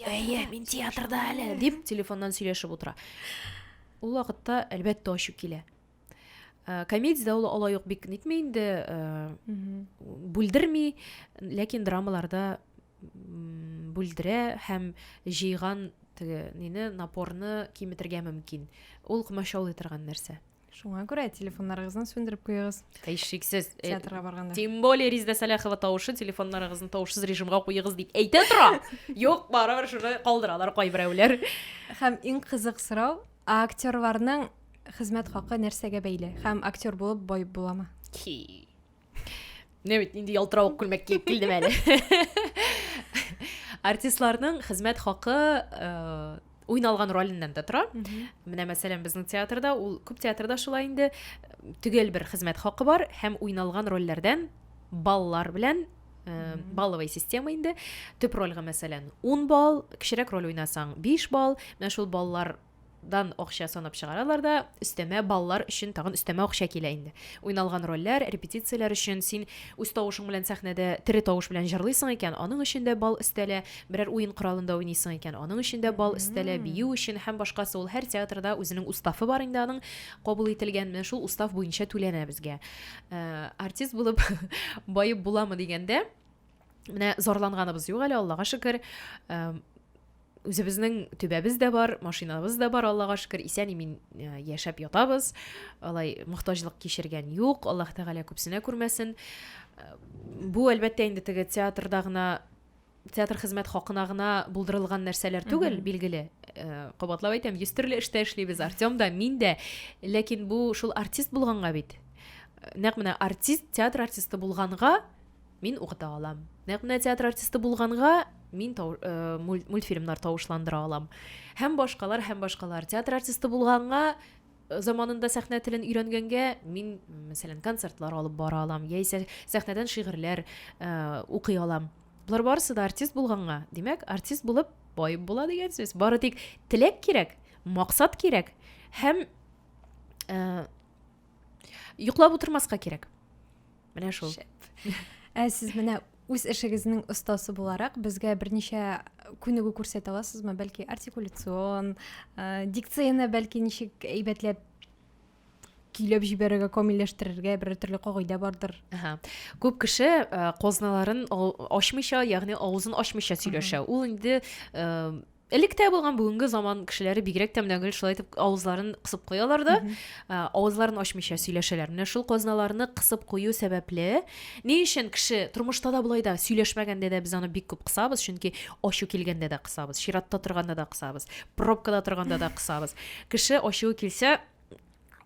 әйе мин театрда әле дип телефоннан сөйләшеп утыра ул вакытта әлбәттә ачу килә ә, комедиядә ул алай ук бик нитми инде ә, бүлдерми ләкин драмаларда бүлдерә һәм җыйган теге нине напорны киметергә мөмкин. Ул комачаулый торган нәрсә. Шуңа күрә телефоннарыгызны сүндереп куегыз. Һич шиксез. Э, Театрга барганда. Тем более Риздә Сәләхова тавышы телефоннарыгызны тавышсыз режимга куегыз дип әйтә тора. Юк, барыбер шуны калдыралар кайберәүләр. Һәм иң кызык сорау, актерларның хезмәт хакы нәрсәгә бәйле? Һәм актер булып бай буламы? Ки. Менә бит нинди ялтыравык күлмәк киеп килдем әле. Артистларның хезмәт хакы э, уйналган роленнән дә тора. Менә мәсәлән безнең театрда ул күп театрда шулай инде төгәл бер хезмәт хакы бар һәм уйналган рольләрдән баллар белән э, балловый система инде төп рольгә мәсәлән 10 балл кечерәк роль уйнасаң 5 балл менә шул баллар дан акча санап чыгаралар да, өстәмә баллар өчен тагын өстәмә акча килә инде. Уйналган рольләр, репетицияләр өчен син үз тавышың белән сәхнәдә тере тавыш белән җырлыйсың икән, аның өчен дә балл өстәлә, берәр уен коралында уйныйсың икән, аның өчен дә балл өстәлә, бию өчен һәм башкасы, ул һәр театрда үзенең уставы бар инде аның, кабул ителгән, менә шул устав буенча түләнә безгә. Артист булып баеп буламы дигәндә, Менә зарланганыбыз юк әле, Аллага шөкер. Үзебезнең төбәбез дә бар, машинабыз да бар, Аллага шөкер, исән имин э, яшәп ятабыз. Алай мохтаҗлык кичергән юк, Аллаһ Тәгалә күпсенә күрмәсен. Э, бу әлбәттә инде теге театрда гына театр хезмәт хакына гына булдырылган нәрсәләр түгел, билгеле. Э, кабатлап әйтәм, йөз төрле эштә эшлибез, Артем да, мин дә. Ләкин бу шул артист булганга бит. Нәкъ менә артист, театр артисты булганга мин укыта алам. Нәкъ менә театр артисты булганга, мин тау, э, мультфильмнар тавышландыра алам. Һәм башкалар, һәм башкалар. Театр артисты булганга, э, заманында сәхнә телен өйрәнгәнгә, мин, мәсәлән, концертлар алып бара алам, яисә сәхнәдән шигырьләр э, укый алам. Болар барысы да артист булганга, димәк, артист булып бай була дигән сүз. Бары тик теләк кирәк, максат кирәк һәм э, йоклап утырмаска кирәк. Менә шул. Ә сез менә үз эшегезнең остасы буларак безгә берничә күнегү күрсәтә аласызмы? Бәлки артикуляцион, э, дикцияне бәлки ничек әйбәтләп көйләп җибәрергә, камилләштерергә бер төрле кагыйдә бардыр. Ага. Күп кеше э, козналарын ачмыйча, ягъни авызын ачмыйча сөйләшә. Ул инде э, Элек тә булган бүгенге заман кешеләре бигрәк тә менә гел шулай итеп авызларын кысып куялар да, ә, авызларын ачмыйча сөйләшәләр. Менә шул казналарны кысып кую сәбәпле, ни өчен кеше тормышта да болай да сөйләшмәгәндә дә без аны бик күп кысабыз, чөнки ачу килгәндә дә кысабыз, чиратта торганда да кысабыз, пробкада торганда да кысабыз. Кеше ачуы килсә,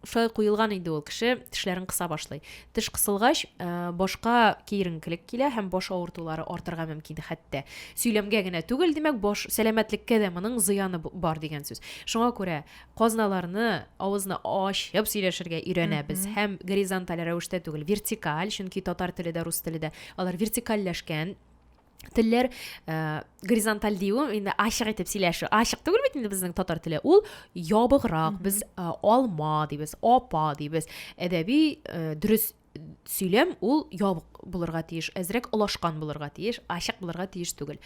шулай куелган инде ул кеше тешләрен кыса башлый теш кысылгач э, башка киеренкелек килә һәм баш авыртулары артырга мөмкин хәтта сөйләмгә генә түгел димәк баш сәламәтлеккә дә моның зыяны бар дигән сүз шуңа күрә казналарны авызны ачып сөйләшергә өйрәнәбез һәм горизонталь рәвештә түгел вертикаль чөнки татар теле дә рус теле дә алар вертикальләшкән телләр ә, горизонталь дию инде ачык итеп сөйләшү ачык түгел бит инде безнең татар теле ул ябыграк без ә, алма дибез апа дибез әдәби ә, дөрес сөйләм ул ябык булырга тиеш әзрәк олашкан булырга тиеш ачык булырга тиеш түгел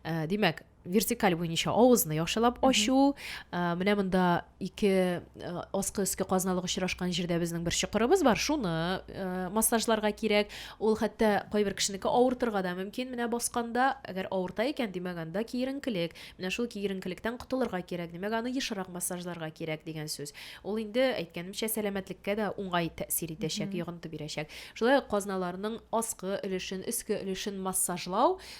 ә, димәк вертикаль буенча авызны яхшылап ачу э, менә монда ике э, аскы өске казналык очрашкан җирдә безнең бер чокырыбыз бар шуны э, массажларга кирәк ул хәтта кайбер кешенеке авыртырга да мөмкин менә басканда әгәр авырта икән димәк анда киеренкелек менә шул киеренкелектән котылырга кирәк димәк аны ешрак массажларга кирәк дигән сүз ул инде әйткәнемчә сәламәтлеккә дә уңай тәэсир итәчәк йогынты бирәчәк шулай ук казналарның аскы өлешен өске өлешен массажлау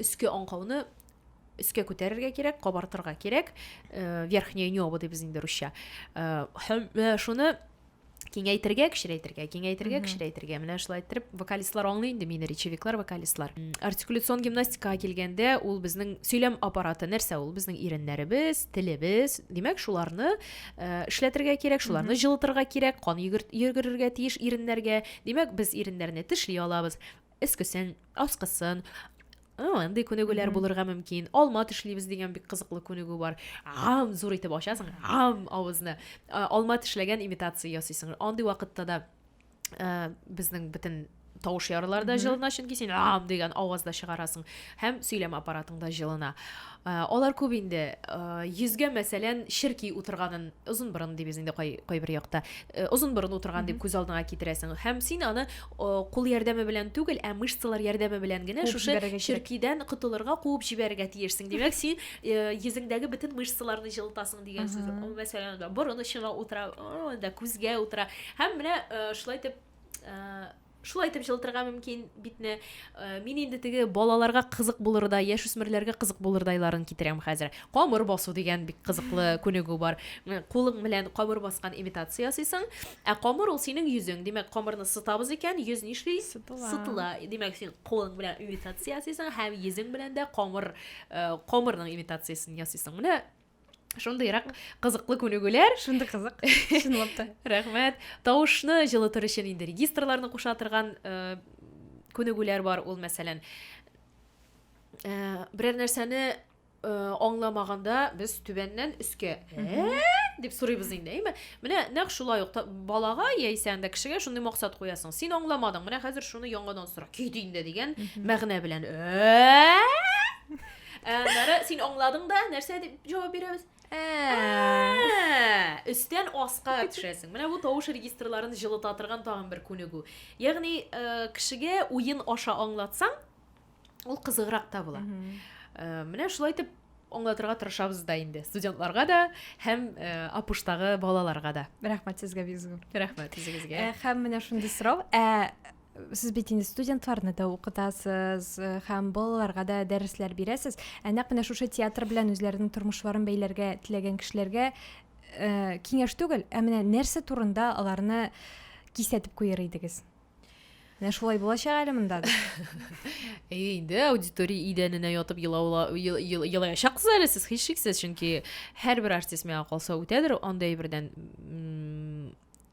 Өске аңкауны өскә күтәрергә кирәк, кабартырга кирәк. Э, верхнее небо дибез инде русча. Э, э, шуны киңәйтергә кечерәйтергә киңәйтергә кечерәйтергә менә шулай иттереп вокалистлар аңлый инде мине речевиклар вокалистлар артикуляцион гимнастикага килгәндә ул безнең сөйләм аппараты нәрсә ул безнең иреннәребез телебез димәк шуларны э, эшләтергә кирәк шуларны җылытырга кирәк кан йөгерергә тиеш иреннәргә димәк без иреннәрне тешли алабыз өскесен, аскысын, андый күнегүләр булырга мөмкин алма тешлибез дигән бик кызыклы күнегү бар ам зур итеп ачасың ам авызны алма тешләгән имитация ясыйсың андый вакытта да безнең бөтен тавыш ярылар да җылына чөнки син ам дигән аваз да чыгарасың һәм сөйләм аппаратың да җылына алар күп инде йөзгә мәсәлән черки утырганын озын борын дибез инде кайбер якта озын борын утырган дип күз алдыңа китерәсең һәм син аны кул ярдәме белән түгел, ә мышцалар ярдәме белән генә шушы черкидән котылырга, куып җибәрергә тиешсең. Димәк, син э, йөзеңдәге бөтен мышцаларны җылытасың дигән сүз. Мәсәлән, да борын очына утыра, да күзгә утыра. Һәм менә э, шулай итеп э, шулай итеп җылытырга мөмкин битне. Мин инде теге балаларга кызык булырдай, яшүсмерләргә кызык булырдайларын китерәм хәзер. Камыр басу дигән бик кызыклы күнегү бар. Кулың белән камыр баскан имитация ясыйсың. Ә камыр ул синең йөзең. Димәк, камырны сытабыз икән, йөз нишли? Сытыла. Сытыла. Димәк, син кулың белән имитация ясыйсың һәм йөзең белән дә камыр, э, камырның имитациясен ясыйсың. Менә шундыйрак кызыклы күнегүләр. Шундый кызык, чынлап та. Рәхмәт. Тавышны җылытыр өчен инде регистрларны куша торган э, күнегүләр бар. Ул, мәсәлән, э, берәр нәрсәне аңламаганда без түбәннән өскә ә дип сорыйбыз инде әйме менә нәкъ шулай ук балага яисә анда кешегә шундый максат куясың син аңламадың менә хәзер шуны яңадан сора кит инде дигән мәгънә белән ә аннары син аңладың да нәрсә дип җавап бирәбез ә өстән аска төшәсең менә бу тавыш регистрларын җылыта торган тагын бер күнегү ягъни кешегә уен аша аңлатсаң ул кызыграк та була э, менә шулай итеп аңлатырга тырышабыз да инде студентларга да һәм э, апуштагы балаларга да рәхмәт сезгә бик зур рәхмәт үзегезгә э, һәм менә шундый сорау ә сез бит инде студентларны да укытасыз э, һәм балаларга да дәресләр бирәсез ә нәкъ менә шушы театр белән үзләренең тормышларын бәйләргә теләгән кешеләргә ә, киңәш түгел ә менә нәрсә турында аларны кисәтеп куер идегез Менә шулай булачак әле монда. Әйдә, аудитория идәненә ятып елаула елаячаксыз әле сез һичшиксез, чөнки һәрбер артист миңа калса үтәдер, андай бердән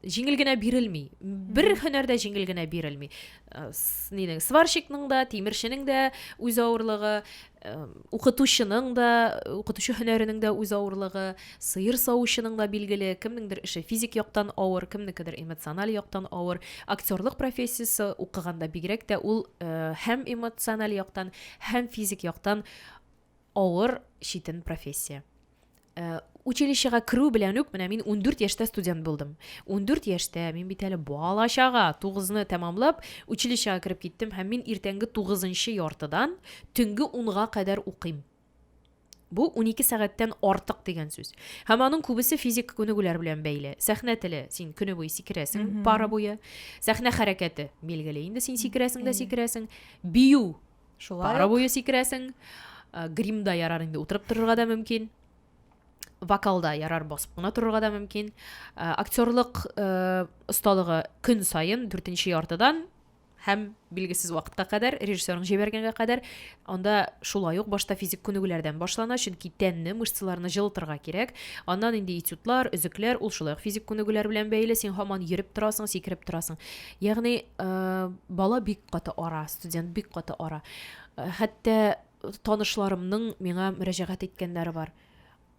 җиңел генә бирелми. Бер һөнәрдә җиңел генә бирелми. Э, нинең сварщикның да, тимерченең дә үз авырлыгы, укытучының да, укытучы һөнәренең дә үз авырлыгы, сыер савучының да билгеле, кемнеңдер эше физик яктан авыр, кемнекедер эмоциональ яктан авыр. Актерлык профессиясе укыганда бигрәк тә ул э, һәм эмоциональ яктан, һәм физик яктан авыр читен профессия. Э, училищега керү белән үк менә мин 14 яшьтә студент булдым 14 яшьтә мин бит әле бала чага тугызны тәмамлап училищега кереп киттем һәм мин иртәнге тугызынчы яртыдан төнге унга кадәр укыйм бу 12 сәгатьтән артык дигән сүз һәм аның күбесе физик күнегүләр белән бәйле сәхнә теле син көне буе сикерәсең пара буе сәхнә хәрәкәте билгеле инде син сикерәсең дә сикерәсең бию Шулай Пара буе сикерәсең. Гримда ярар инде утырып торырга да мөмкин. Вокалда ярар басып кына торырга да мөмкин. Актерлык осталыгы көн саен 4 нче яртыдан һәм билгесез вакытка кадәр, режиссерның җибәргәнгә кадәр, анда шулай ук башта физик күнегүләрдән башлана, чөнки тәнне, мышцаларны җылытырга кирәк. Аннан инде этюдлар, өзекләр, ул шулай ук физик күнегүләр белән бәйле, син һаман йөреп торасың, сикереп торасың. Ягъни, э, бала бик каты ара, студент бик каты ара. Э, хәтта танышларымның миңа мөрәҗәгать иткәннәре бар.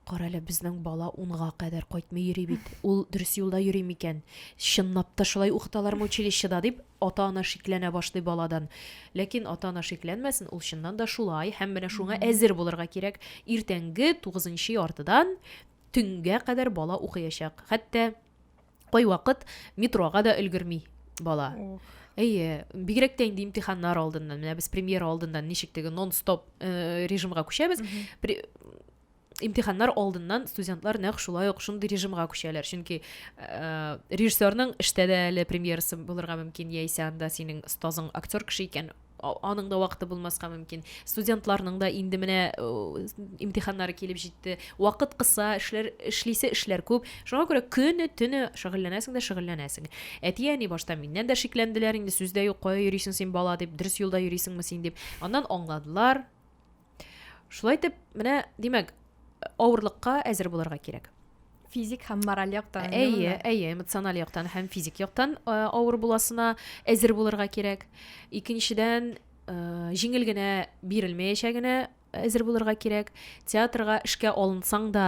Кара әле, безнең бала унга кадәр кайтмый йөри бит. Ул дөрес юлда йөри микән? Чынлап та шулай укыталармы училищеда дип, ата-ана шикләнә башлый баладан. Ләкин ата-ана шикләнмәсен, ул чыннан да шулай һәм менә шуңа әзер булырга кирәк. Иртәнге 9 яртыдан төнгә кадәр бала укыячак. Хәтта Кайвакыт метрога да өлгерми бала. Әйе, бигрәк тә инде имтиханнар алдыннан, менә без премьера алдыннан ничек теге нон-стоп э, режимга күчәбез. Пре- Имтиханнар алдыннан студентлар нәкъ шулай ук шундый режимга күчәләр, чөнки э, режиссерның эштә дә әле премьерасы булырга мөмкин, яисә анда синең остазың актер кеше икән, аның да вакыты булмаска мөмкин. Студентларның да инде менә имтиханнары килеп җитте. Вакыт кыса, эшләр эшлисе эшләр күп. Шуңа күрә көне төне шөгыльләнәсең дә шөгыльләнәсең. Әти-әни башта миннән дә шикләнделәр инде, сүз дә юк, кая йөрисең син бала дип, дөрес юлда йөрисеңме син дип. Аннан аңладылар. Шулай итеп, менә, димәк, авырлыкка әзер булырга кирәк. Физик һәм мораль яктан. Әйе, әйе, эмоциональ яктан һәм физик яктан э, авыр буласына әзер булырга кирәк. Икенчедән, э, җиңел генә бирелмәячәгенә әзер булырга кирәк. Театрга эшкә алынсаң да,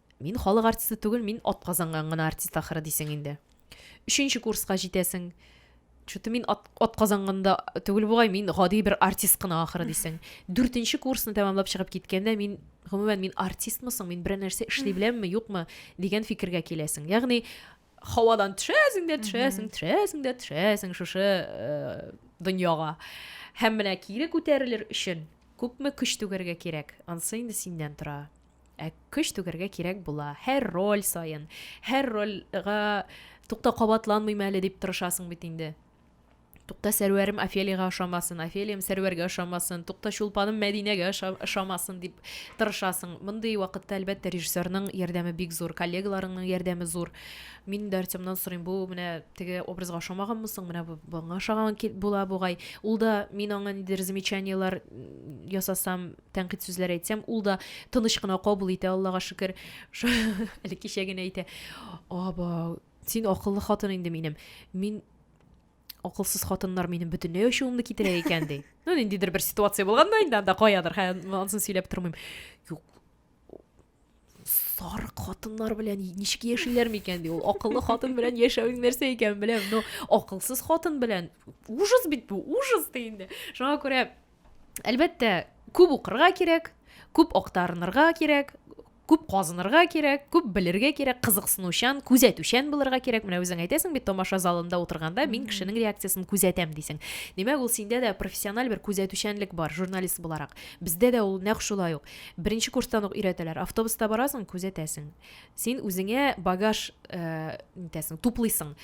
Мин халык артисты түгел, мин атказанган гына артист ахыры дисең инде. Өченче курска җитәсең. Чуты мин ат, атказанганда түгел бугай, мин гади бер артист кына ахыры дисең. Дүртенче курсны тәмамлап чыгып киткәндә мин гомумән мин артистмы соң, мин берәр нәрсә эшли беләмме, юкмы дигән фикергә киләсең. Ягъни һавадан төшәсең дә төшәсең, төшәсең дә төшәсең шушы э, дөньяга. Һәм менә кире күтәрелер өчен күпме көч түгәргә кирәк, ансы инде синнән тора. Ә көч түгәргә кирәк була. Һәр роль саен, һәр рольга тукта кабатланмыйм әле дип тырышасың бит инде. Тукта сәрвәрем Офелиягә ошамасын, Офелиям сәрвәргә ошамасын, тукта чулпаным Мәдинәгә ошамасын дип тырышасың. Мондый вакытта, әлбәттә, режиссерның ярдәме бик зур, коллегаларыңның ярдәме зур. Мин дә Артемнан сорыйм, бу менә теге образга ошамаганмы соң, менә бу буңа ошаган була бугай. Ул да мин аңа нидер замечаниеләр ясасам, тәнкыйть сүзләр әйтсәм, ул да тыныч кына кабул итә, Аллага шөкер. Әле кичә генә әйтә. Аба, син акыллы хатын инде минем. Мин акылсыз хатыннар минем бөтенләй ачуымны китерә икән ди. Ну, ниндидер бер ситуация булганда инде анда каядыр, хәзер ансын сөйләп тормыйм. Юк. сарык хатыннар белән ничек яшиләр микән ди ул акыллы хатын белән яшәвең нәрсә икәнен беләм но акылсыз хатын белән ужас бит бу ужас ди инде шуңа күрә әлбәттә күп укырга кирәк күп актарынырга кирәк күп казынырга кирәк күп белергә кирәк кызыксынучан күзәтүчән булырга кирәк менә үзең әйтәсең бит тамаша залында утырганда мин кешенең реакциясен күзәтәм дисең димәк ул синдә дә профессиональ бер күзәтүчәнлек бар журналист буларак бездә дә ул нәкъ шулай ук Беренче курстан ук өйрәтәләр. Автобуста барасың, күзәтәсең. Син үзеңә багаж э, нитәсең, туплыйсың.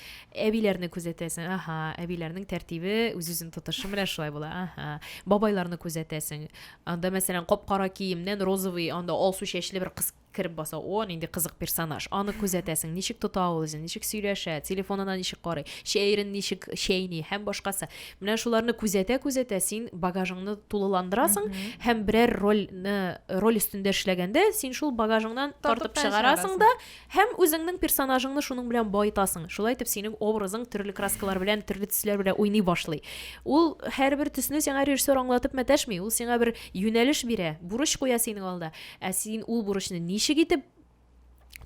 Әбиләрне күзәтәсең. Аха, әбиләрнең тәртибе, үз-үзен тотышы менә шулай була. Аха. Бабайларны күзәтәсең. Анда, мәсәлән, кап-кара киемнән розовый, анда алсу чәчле бер кыз кереп баса. О, нинди кызык персонаж. Аны күзәтәсең. Ничек тота ул үзен, ничек сөйләшә, телефонына ничек карый, чәерен ничек чәйни һәм башкасы. Менә шуларны күзәтә-күзәтә син багажыңны тулыландырасың һәм берәр рольне роль өстендә эшләгәндә син шул багажыңнан тартып чыгарасың да һәм үзеңнең персонажыңны шуның белән баетасың. Шулай итеп синең образың төрле краскалар белән, төрле төсләр белән уйный башлый. Ул һәрбер төсне сиңа режиссер аңлатып мәтәшми, ул сиңа бер юнәлеш бирә, бурыч куя синең алда. Ә син ул бурычны ничек итеп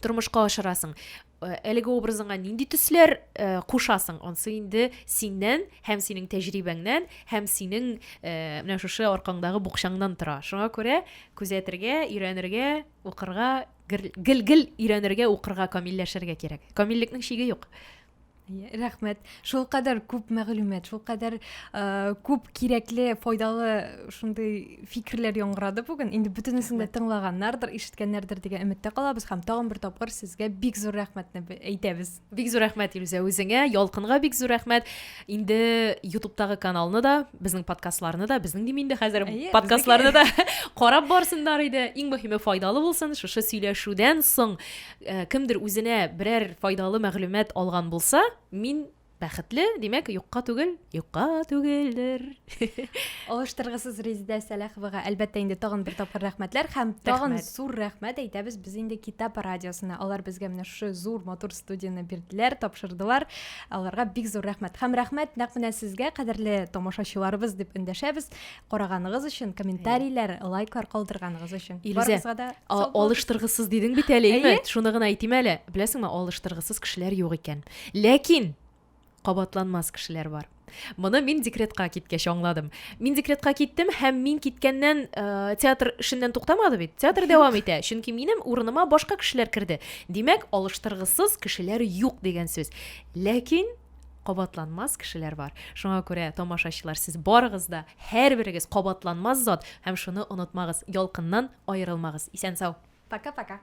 тормышка ашырасың Э, әлеге образыңа нинди төсләр э, кушасың онсы инде синнән һәм синең тәҗрибәңнән һәм синең э, менә шушы аркаңдагы букчаңнан тора шуңа күрә күзәтергә өйрәнергә укырга гел гел өйрәнергә укырга камилләшергә кирәк камиллекнең чиге юк рәхмәт шул кадәр күп мәгълүмат шул кадәр э, күп кирәкле файдалы шундый фикерләр яңгырады бүген инде бөтенесен дә тыңлаганнардыр ишеткәннәрдер дигән өметтә калабыз һәм тагын бер тапкыр сезгә бик зур рәхмәтне әйтәбез бик зур рәхмәт илүзә үзеңә ялкынга бик зур рәхмәт инде ютубтагы каналны да безнең подкастларны да безнең дим инде хәзер подкастларны да карап барсыннар иде иң мөһиме файдалы булсын шушы сөйләшүдән соң Э, кемдер үзенә берәр файдалы мәгълүмат алган булса мин бәхетле димәк юкка түгел юкка түгелдер алыштыргысыз резидә сәләховага әлбәттә инде тагын бер тапкыр рәхмәтләр һәм тагын зур рәхмәт әйтәбез без инде китап радиосына алар безгә менә шушы зур матур студияне бирделәр тапшырдылар аларга бик зур рәхмәт һәм рәхмәт нәкъ менә сезгә кадерле тамашачыларыбыз дип эндәшәбез караганыгыз өчен комментарийләр лайклар калдырганыгыз өчен барыгызга да алыштыргысыз дидең бит әле әйе шуны гына әйтим әле беләсеңме алыштыргысыз кешеләр юк икән ләкин кабатланмас кешеләр бар моны мин декретка киткәч аңладым мин декретка киттем һәм мин киткәннән ә, театр эшеннән туктамады бит театр дәвам итә чөнки минем урыныма башка кешеләр керде димәк алыштыргысыз кешеләр юк дигән сүз ләкин кабатланмас кешеләр бар. Шуңа күрә, тамашачылар, сез барыгыз да, һәрберегез кабатланмас зат һәм шуны онытмагыз, ялкыннан аерылмагыз. Исән-сау! Пока-пока!